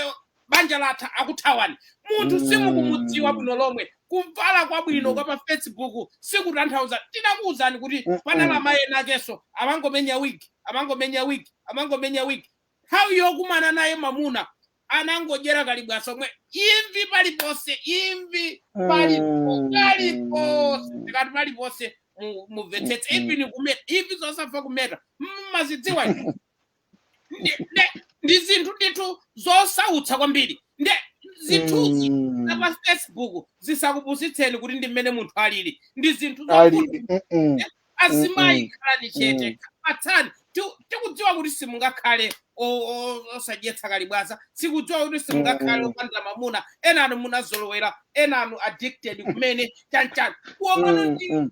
S1: banja latha akuthawani munthu simukumudziwa Mm. bwino lomwe kuvala kwabwino Mm. kwa pa facebook sikutanthauza tinakuwuzani kuti Mm-mm. panali amayi ena akenso amangomenya wigi amangomenya wigi amangomenya wigi nthawi yokumana naye mamuna anangodyera kalibwaso mwee imvi paliponse imvi palipo Mm. paliponse tikati paliponse mu- mumvetsetse Mm-mm. even kumeta imvi zosafuna kumeta mumazidziwa ndi- ndi- ndi zinthu ndithu zosautsa kwambiri nde zithunzi Mm. za pa facebook zisakupusitseni kuti ndi mmene munthu alili ndi zinthu zokuti alili Mm-mm. azimayi Mm-mm. khalani chete Mm. fatsani Ti- tikudziwa kuti simungakhale o- o- osadyetsa kalibwaza tikudziwa kuti simungakhale Mm-mm. opanda mamuna enanu munazolowera enanu addicted kumene chanchani kuomana Mm, ndi mm.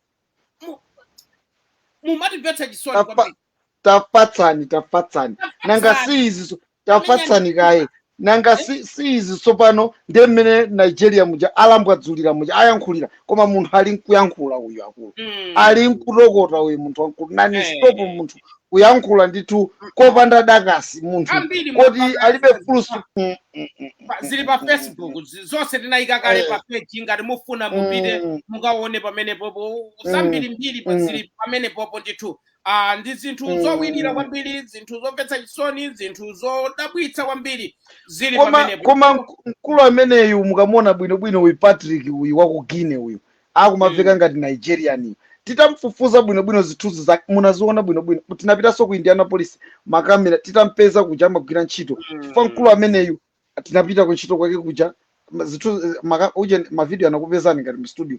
S1: mumatimvetsa chisoni Apa- kwambiri
S2: tafatsani tafatsani nanga si izi so- tafatsani kaye nanga si si izi tsopano ndiye mmene nigeria muja alambwadzulira muja ayankhulira koma munthu ali nkuyankhula uyu akulu Mm. ali nkutokota uyu munthu wamkulu nani Eh. stop munthu kuyankhula ndithu kopanda dakasi munthu koti alibe fulusitopu Mm, mm, mm,
S1: Pa- zili pa facebook zi- zonse tinayika kale Eh. pa page ngati mufuna mupite Mm. mukaone pamenepopo zambiri mbiri pa Mm. zili pamenepopo ndithu uh, ndi zinthu mm. zowirira kwambiri zinthu zomvetsa chisoni zinthu zodabwitsa kwambiri zili pamenepo koma mk- mkulu
S2: ameneyu mukamuona bwinobwino uyu patrick uyu wa ku guinea uyu akumaveka mm. ngati nigerian titamfufuza bwinobwino zithunzi zake munaziona bwinobwino tinapitanso ku indianapolis makamera titampeza kuja amagwira ntchito chifukwa mkulu Mm. ameneyu tinapita kuntchito kwake kuja ma- zithu- eh, maka- uje mavidiyo anakupezani ngati mu studio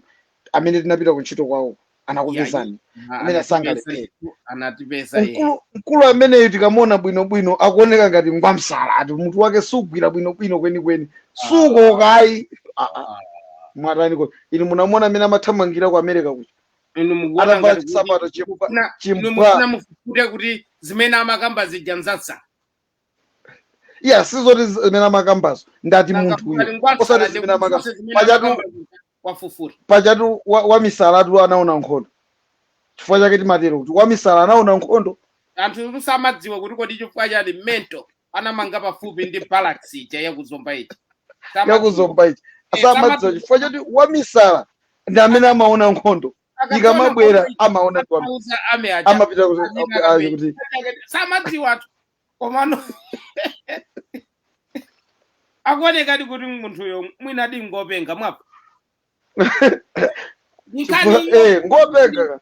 S2: amene tinapita kuntchito kwawo yayi anakupezani ma- amene anatipeza sangalephere ndithu anatipeza ehe
S1: mkulu mkulu
S2: ameneyo tikamuona bwinobwino akuoneka ngati ngwamsala ati mutu wake sugwira bwinobwino kwenikweni Ah, suko okay Ah, ah, ah. mwatani ko inu munamuona mmene amathamangira ku america kuja inu mukuona atavala
S1: ngati kuti chisapato chifukwa mukufuna inu
S2: chifukwa mukufuna
S1: mufufute kuti zimene amakamba zija nzaza
S2: iya sizoti zimene amakambazo ndati Nanga munthu kukali uyo ngwamsala osati ndi zimene amakamba kufunsa zimene pajatu amakamba kwafufura pajatu wa- wamisalatu anaona nkhondo chifukwa chake timatero kuti wamisala anaona nkhondo anthu
S1: samadziwa kuti kodi chifukwa chani mental anamanga pafupi ndi barracks ija yakuzomba ija yakuzomba ichi Eh, samadziwa
S2: samadziwa. chifukwa choti wamisala ndi amene amaona nkhondo Akatola ikamabwera kuti amaona kuti wam- akauza ame aja amapita kuti- Azina azi kabe. kuti
S1: samadziwa athu komano akuonekadi kuti munthuyo mwinadi ngopenga mwapo
S2: Chifukwa- eh, ngopenga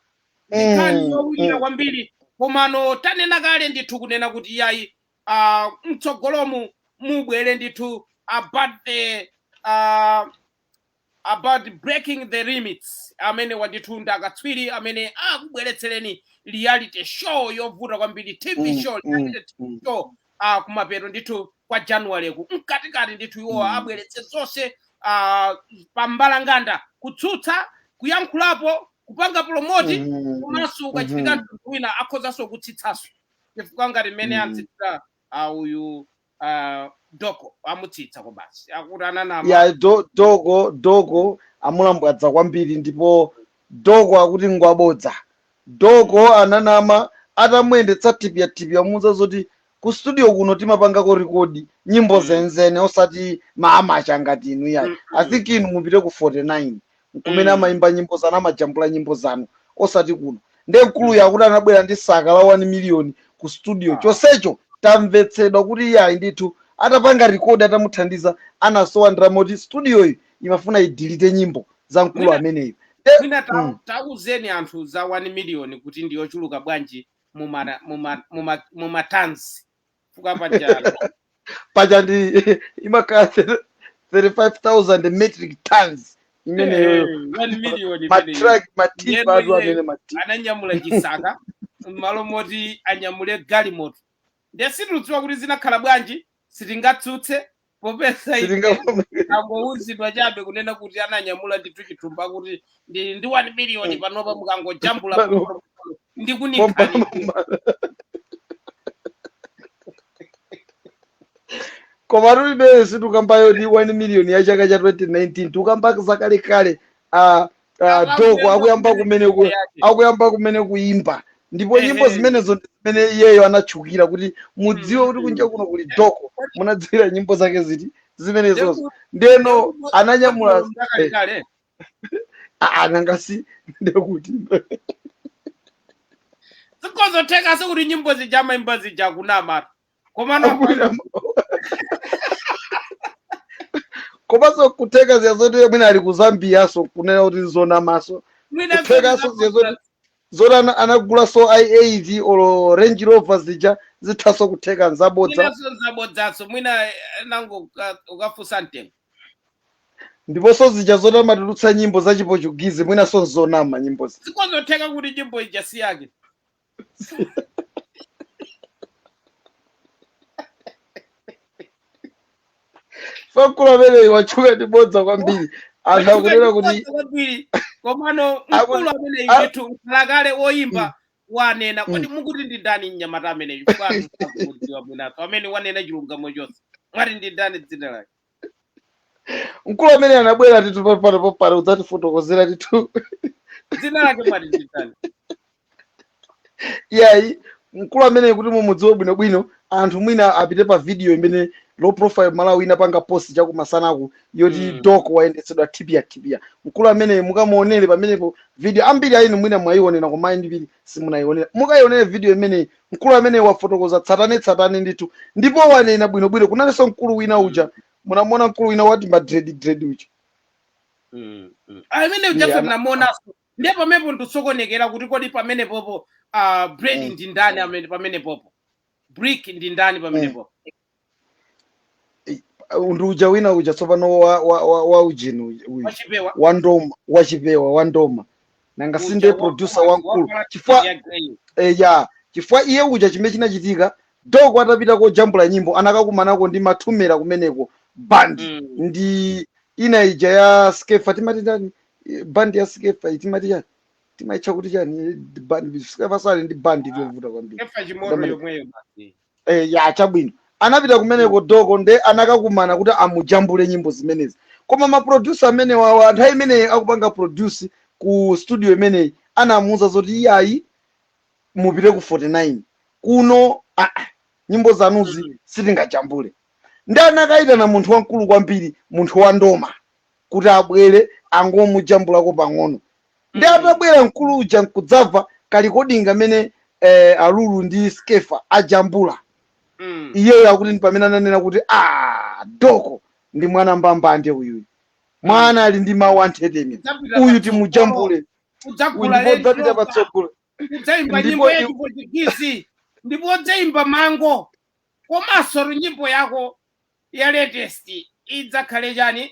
S1: nkhani Mm, yowirira mm. kwambiri komano tanena kale ndithu kunena kuti yayi ah, mtsogolomu mubwere ndithu a BTL about breaking the limits amenewa ndithu ndi akatswiri amene akubweretsereni reality show yovuta kwambiri tv Mm, show mm, reality tv mm, show ah, kumapeto ndithu kwa january ku mkatikati ndithu iwo mm. abweretse zonse ah, pa mbalanganda kutsutsa kuyankhulapo kupanga promote Mhm, komanso ukachitika mhm, mtundu wina akhozanso kutsitsanso chifukwa ngati mmene mm. antsitira ah, uyu ah, doko amutsitsa kobasi akuti ananama ya do, doko
S2: doko amulambwadza kwambiri ndipo doko akuti ngwabodza doko ananama atamuyendetsa tipyatipya amuuza zoti ku studio kuno timapangako rekodi nyimbo Mm. zenizeni osati maamacha ngati inu yayi Mm, i mm. think inu mupite ku 49 nkumene Mm. amayimba nyimbo zanu amajambula nyimbo zanu osati kuno nde mkuluyo akuti anabwera ndi saka la 1 million ku studio Ah. chonsecho tamvetsedwa kuti iyayi ndithu atapanga rekodi atamuthandiza anasowa ndalama moti studioyi imafuna idelete nyimbo za mkulu Mwina- ameneyo nde mwina ta-
S1: Mm. tauzeni anthu za 1 million kuti ndiyochuluka bwanji muma- muma- muma- mumatanzi chifukwa
S2: pajatu paja ndi imakhala 35000 metric tons imeneyo one million imeneyo
S1: matraki
S2: matipa awo amene matipa
S1: ananyamula chisaka m'malo moti anyamule galimoto nde sitikudziwa kuti zinakhala bwanji sitingatsutse popeza ife sitingavomereze tangouzidwa chabe kunena kuti ananyamula ndithu chithumba kuti ndili ndi 1 miliyoni panopa mukangojambula Pano. pomwe pomwe pomwe, ndikunikhalire
S2: Mopambana. koma tulibe situkamba yoti 1 million ya chaka cha 2019 tukamba zakalekale a uh, Doko akuyamba kumene ku, akuyamba kumene kuimba ndipo nyimbo Ehe. zimenezo ndi zimene iyeyo anatchukira kuti mudziwe kuti kunja kuno kuli Doko munadziwira nyimbo zake ziti zimenezozo ndeno ananyamula eh, kale a- nanga si ndekuti
S1: zikozotheka sekuti nyimbo zija amaimba zija kunama komano
S2: Abusa- komanso kutheka zija zoti mwina ali ku Zambiaso kunena kuti zonamaso mwina kuthekaso zija zoti zoti ana- anagulaso i8 olo Range Rover zija zithaso kutheka nzabodza mwinaso
S1: nzabodzaso mwina eh, nanga uka- ukafusa mtengo
S2: ndiponso zija zoti amatulutsa nyimbo za chipochugizi mwinaso nzonama nyimbo zija zikozotheka kuti
S1: nyimbo ija si yake
S2: mkulu ameneyi watchuka ndi bodza kwambiri anthu akunena kuti kwambiri
S1: komano Aku- mkulu ameneyu a- ndithu mkhalakale woyimba wanena kodi mukuti ndi ndani mnyamata ameneyu kwanu akudziwa bwinaso amene wanena chilungamo chonse mwati ndi ndani dzina lake
S2: mkulu amene anabwera titu pa- pano popano udzatifotokozera titu
S1: dzina lake mwati ndi
S2: ndani yayi mkulu ameneyi kuti mumudziwe bwinobwino anthu mwina apite pa video imene Low Profile Malawi inapanga post chakumasanaku yoti Mm. Doko wayendetsedwa tipia tipia mkulu ameneyi mukamuonere pamenepo video ambiri a inu mwina mwayionera koma ambiri simunayionera mukayionere video imeneyi mkulu amene wafotokoza tsatane tsatane ndithu ndipo wanena bwino bwino kunalinso mkulu wina uja munamuona mkulu wina wa tima dread dread uja Mm,
S1: mm. amene Yeah, ujaso ana- tinamuonanso ndiye pamenepo ndikusokonekera kuti kodi pamenepopo ah, bread Mm. ndi ndani amene pamenepopo brick ndi ndani pamenepopo
S2: ndi uja wina uja tsopano wa, wa, wa, wa ujeni uyu- uyu wachipewa wa ndoma wachipewa wa ndoma nanga uja si nde wa- producer wa- wamkulu wavala chipewa cha grey. eh, ya chifukwa iye uja chimene chinachitika Doko atapita kojambula nyimbo anakakumanako ndi Mathumela kumeneko band Mm. ndi ina ija ya Skefa timati chani Eh, band ya Skefa iyi timati chani timaitcha kuti chani Eh, band Skefa sali ndi band iliyovuta kwambiri Skefa Chimoto Dominic. yomweyo basi Eh, ya chabwino anapita kumeneko doko nde anakakumana kuti amujambule nyimbo zimenezi koma maprodusa amene wawa nthawi imeneyi akupanga produce ku studio imeneyi anamuuza zoti iyayi mupite ku 49 uko ah, ah, nyimbo zanuzi sitingajambule ndi anakayitana munthu wamkulu kwambiri munthu wa ndoma kuti abwere adzangomujambulako pang'ono ndi Mm. atabwera mkulu uja nkudzamva kalikoding kamene eh, alulu ndi skefa ajambula Mm. iyeyo akuti ndi pamene ananena kuti a doko ndi mwana mbambande uyu mwana ali ndi mawu anthetemya Udzapita uyu patsogolo, timujambule uyu udzagula ndipo udzapita lendoka patsogolo udzaimba
S1: Ndipo nyimbo ya iwe- chipwitikizi ndipo udzaimba mango komanso nyimbo yako ya latest idzakhale chani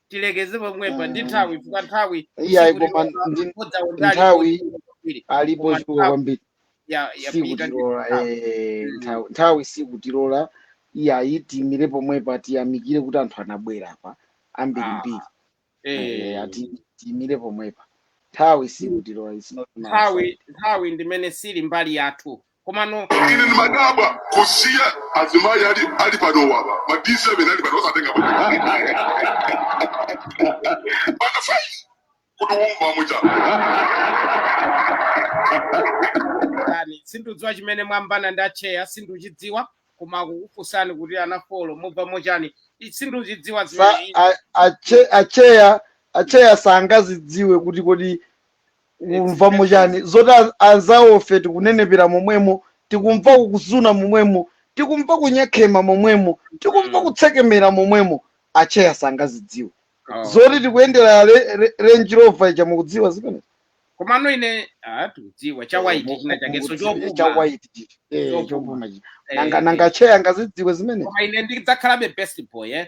S1: tilekeze pomwepa ndi nthawi chifukwa nthawi iyayi siku koma lilonse ndi bodza nkhani alipo
S2: nthawi chifukwa kwambiri alipo koma chifukwa nthawi kwambiri ya yapita ndi sikutilola nthawi eh, Mm. nthawi nthawi sikutilola iyayi tiyimire pomwepa tiyamikire kuti anthu anabwera apa ah ambirimbiri eh, eh ati tiyimire pomwepa nthawi sikutilola it's not in our nthawi side
S1: nthawi ndimene siili mbali yathu Komano ine
S3: ndimadabwa kusiya azimayi ali ali panowa apa ma D7 ali pano osatenga pa pano fai kuti mukumva
S1: mochani sindikudziwa chimene mwambana ndi acheya sindikuchidziwa koma akukufunsani kuti anafolo mukumva mochani I- sindikuchidziwa Sa- zimene a- ache- acheya
S2: acheya sangazidziwe kuti kodi kumva mochani zoti an- anzawofe tikunenepera momwemo tikumva kukuzuna momwemo tikumva kunyekhema momwemo tikumva kutsekemera momwemo acheya sangazidziwe Oh. zoti tikuyendera re- re- range rover ija mukudziwa zimene komano
S1: ine ah, tikudziwa cha white china chakeso chopuma chawaiti chichi
S2: Eh, Chopuma. chopuma
S1: chichi Eh,
S2: nanga eh. nanga
S1: acheya
S2: angazidziwe
S1: zimene koma
S2: ine
S1: ndidzakhalabe
S2: best boy
S1: eh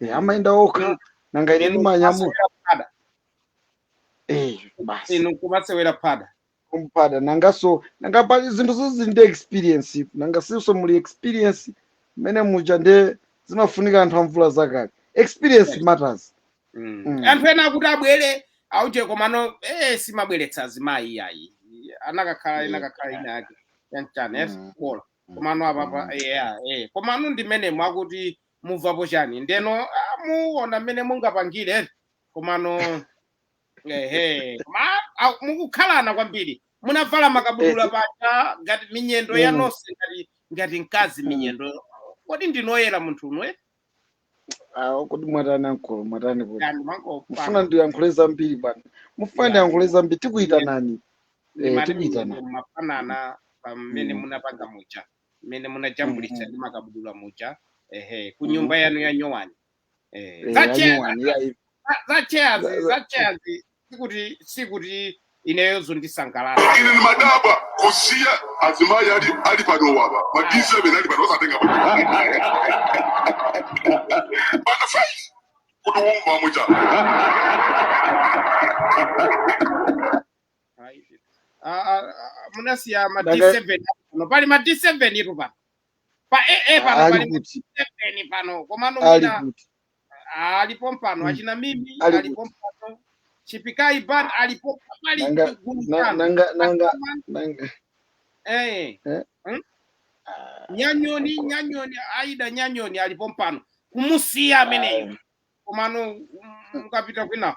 S2: eh, amayenda okha Inu- nanga ine inu ndimanyamula kumasewera phada eh, basi inu
S1: kumasewera phada kumphada nanganso
S2: nanga pali zinthu zoti zili ndi experience nanga sinso muli experience mmene muja nde zimafunika anthu amvula zakale experience Right. matters Mm. Mm.
S1: anthu ena akuti abwere auje komano eh, simabweretsa azimayi iyayi anakakhala Eh, inakakhala ina yake yanchani eh, mm, bola mm, komano apapa mm. yeah, eh. komano ndimenemo akuti mumvapo chani ndeno ah, muona mmene mungapangire eti komano ehe koma ah, mukukhalana kwambiri munavala makabudula paja ngati minyendo ya Mm. nonse ngati ngati mkazi Mm. minyendo kodi ndinoyera munthu unwe
S2: Ah, kodi mwatani ankolo mwatani kodi yani mufuna mangopanga ndiyankhule zambiri bwana mufuna ya ndiyankhule zambiri minyendo tikuyitanani eh, ndimati tikuyitaneni minyendo mafanana
S1: pamene Mm. munapanga muja mmene munajambulitsa ndi makabudula muja ehe ku nyumba yanu ya nyowani eh, Eh, za chairs- nyowani, yeah, if- za- za chairs Za- za- za chairs sikuti sikuti ineyo zondisangalala Koma ine ndimadabwa
S3: kusiya azimayi ali ali panowa apa ma D7 ali pano osatenga pa pano paja kuti umva mucha
S1: Ayi. Ah, ah, ah, munasiya ma Daka- D7 pano pali ma D7 itu pano pa AA pano ali pali ma kuti D7 pano komano ali mwina kuti ali pompano Mm. achina mimi ali ali kuti pompano chipikai ban alipo pali nanga gulu na- pano
S2: nanga nanga nanga eh eh?
S1: hmm? Ah, nyanyoni ko- nyanyoni aida nyanyoni ali pompano kumusiya ameneyo ah, komano mm, mukapita kwina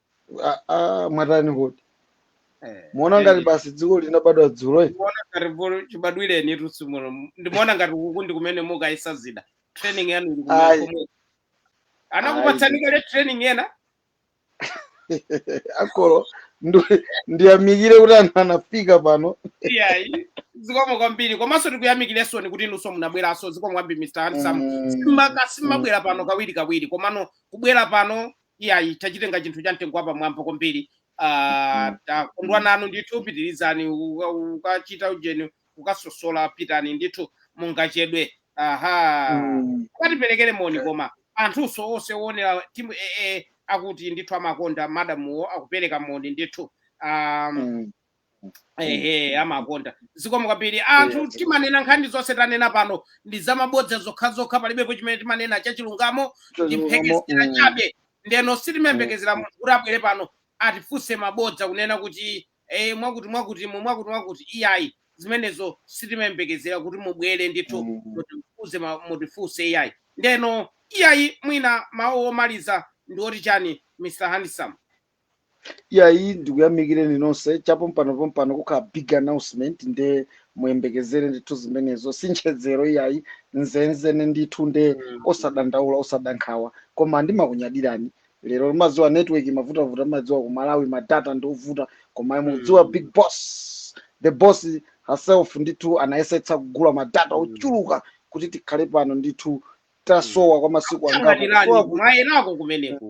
S1: Ah,
S2: ah, mwatani kodi Eh, muona eh, ngati basi dziko linabadwa dzulo eti? ndikuona ngati
S1: bulu- chibadwireni tusi muno ndimaona ngati kuku ndi kumene mukayisa zida training yanu ili kumene Ayi. komwe anakupatsani Ayi. kale training yena
S2: akolo ndu- ndiyamikire kuti anthu anafika pano
S1: iyayi zikomo kwambiri komanso tikuyamikirensoni kuti inunso munabweranso zikomo kwambiri mr handsome Mm. Simaka- simabwera pano kawiri kawiri komano kubwera pano iyayi tachitenga chinthu cha mtengo wapamwamba kwambiri Ah, takondwa nanu ndithu pitirizani uka- ukachita ujeni ukasosola pitani ndithu mungachedwe aha Mm. ukatiperekere moni koma anthunso onse owonera timu ee akuti ndithu amakonda madamuwo akupereka moni ndithu um, Mm. ehe amakonda zikomo kwambiri anthu Yes. timanena nkhani zonse tanena pano ndi zamabodza zokhazokha palibepo chimene timanena chachilungamo ndi mphekesera chabe ndeno sitimayembekezera munthu kuti abwere pano atifunse mabodza kunena kuti eh, mwakuti mwakuti mu mwakuti mwakuti iyayi zimenezo sitimayembekezera kuti mubwere ndithu mutifunse ma- mutifunse iyayi ndeno iyayi mwina mawu omaliza ndi oti chani mr handsome
S2: iyayi ndikuyamikireni nonse chapompano pompano kukhala big announcement nde muyembekezere ndithu zimenezo si nchezero iyayi nzenzene ndithu nde osadandaula osadankhawa koma ndimakunyadirani lero mumadziwa network imavutavuta mumadziwa ku malawi madata ndi ovuta koma ayi mukudziwa Mm. big boss the boss herself ndithu anayesetsa kugula madata Mm. ochuluka kuti tikhale pano ndithu tasowa kwa masiku angapo kusowa akungatirani ku mayerako
S1: kumeneku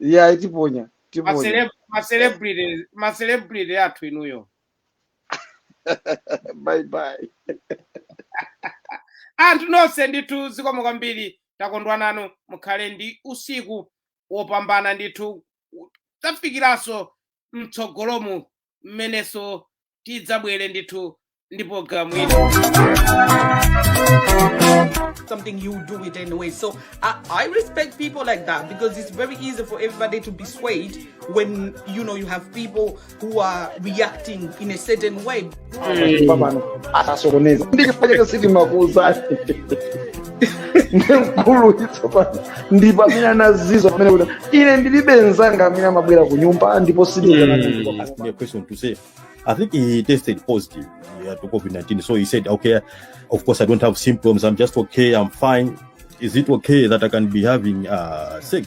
S2: iyayi tiponya Ma tiponya
S1: celeb- ma celebrity- ma celebrity athu
S2: inuyo bye bye
S1: anthu nonse ndithu zikomo kwambiri takondwa nanu mukhale ndi usiku wopambana ndithu tafikiranso mtsogolomu mmenenso tidzabwere ndithu ndi programu ino
S4: something you do it anyway. So I, I respect people like that because it's very easy for everybody to be swayed when you know you have people who are reacting in a certain way. pano
S2: asasokoneza ndikifanya kasiti makuza ndi mkulu tsopano ndi pamene anazizwa nane kuti ine ndilibe mzanga amene amabwera ku nyumba ndipo sindizanaa asked me a question to
S5: say. I think he tested positive yeah, to COVID 19. So he said, okay, of course, I don't have symptoms. I'm just okay. I'm fine. Is it okay that I can be having uh, sex?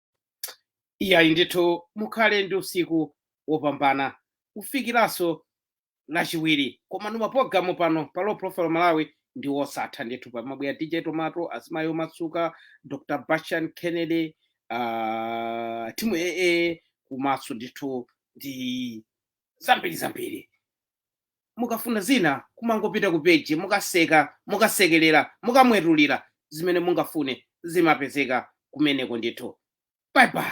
S1: iyayi ndithu mukhale ndi usiku wopambana kufikiranso lachiwiri koma mapulogalamu pano pa low profile malawi ndi wosatha ndithu pamabwera dj tomato azimayi omasuka dr bashan kennedy uh, timu aa kumaso ndithu ndi zambiri zambiri mukafuna zina kumangopita ku peji mukaseka mukasekerera mukamwetulira zimene mungafune zimapezeka kumeneko ndithu bye bye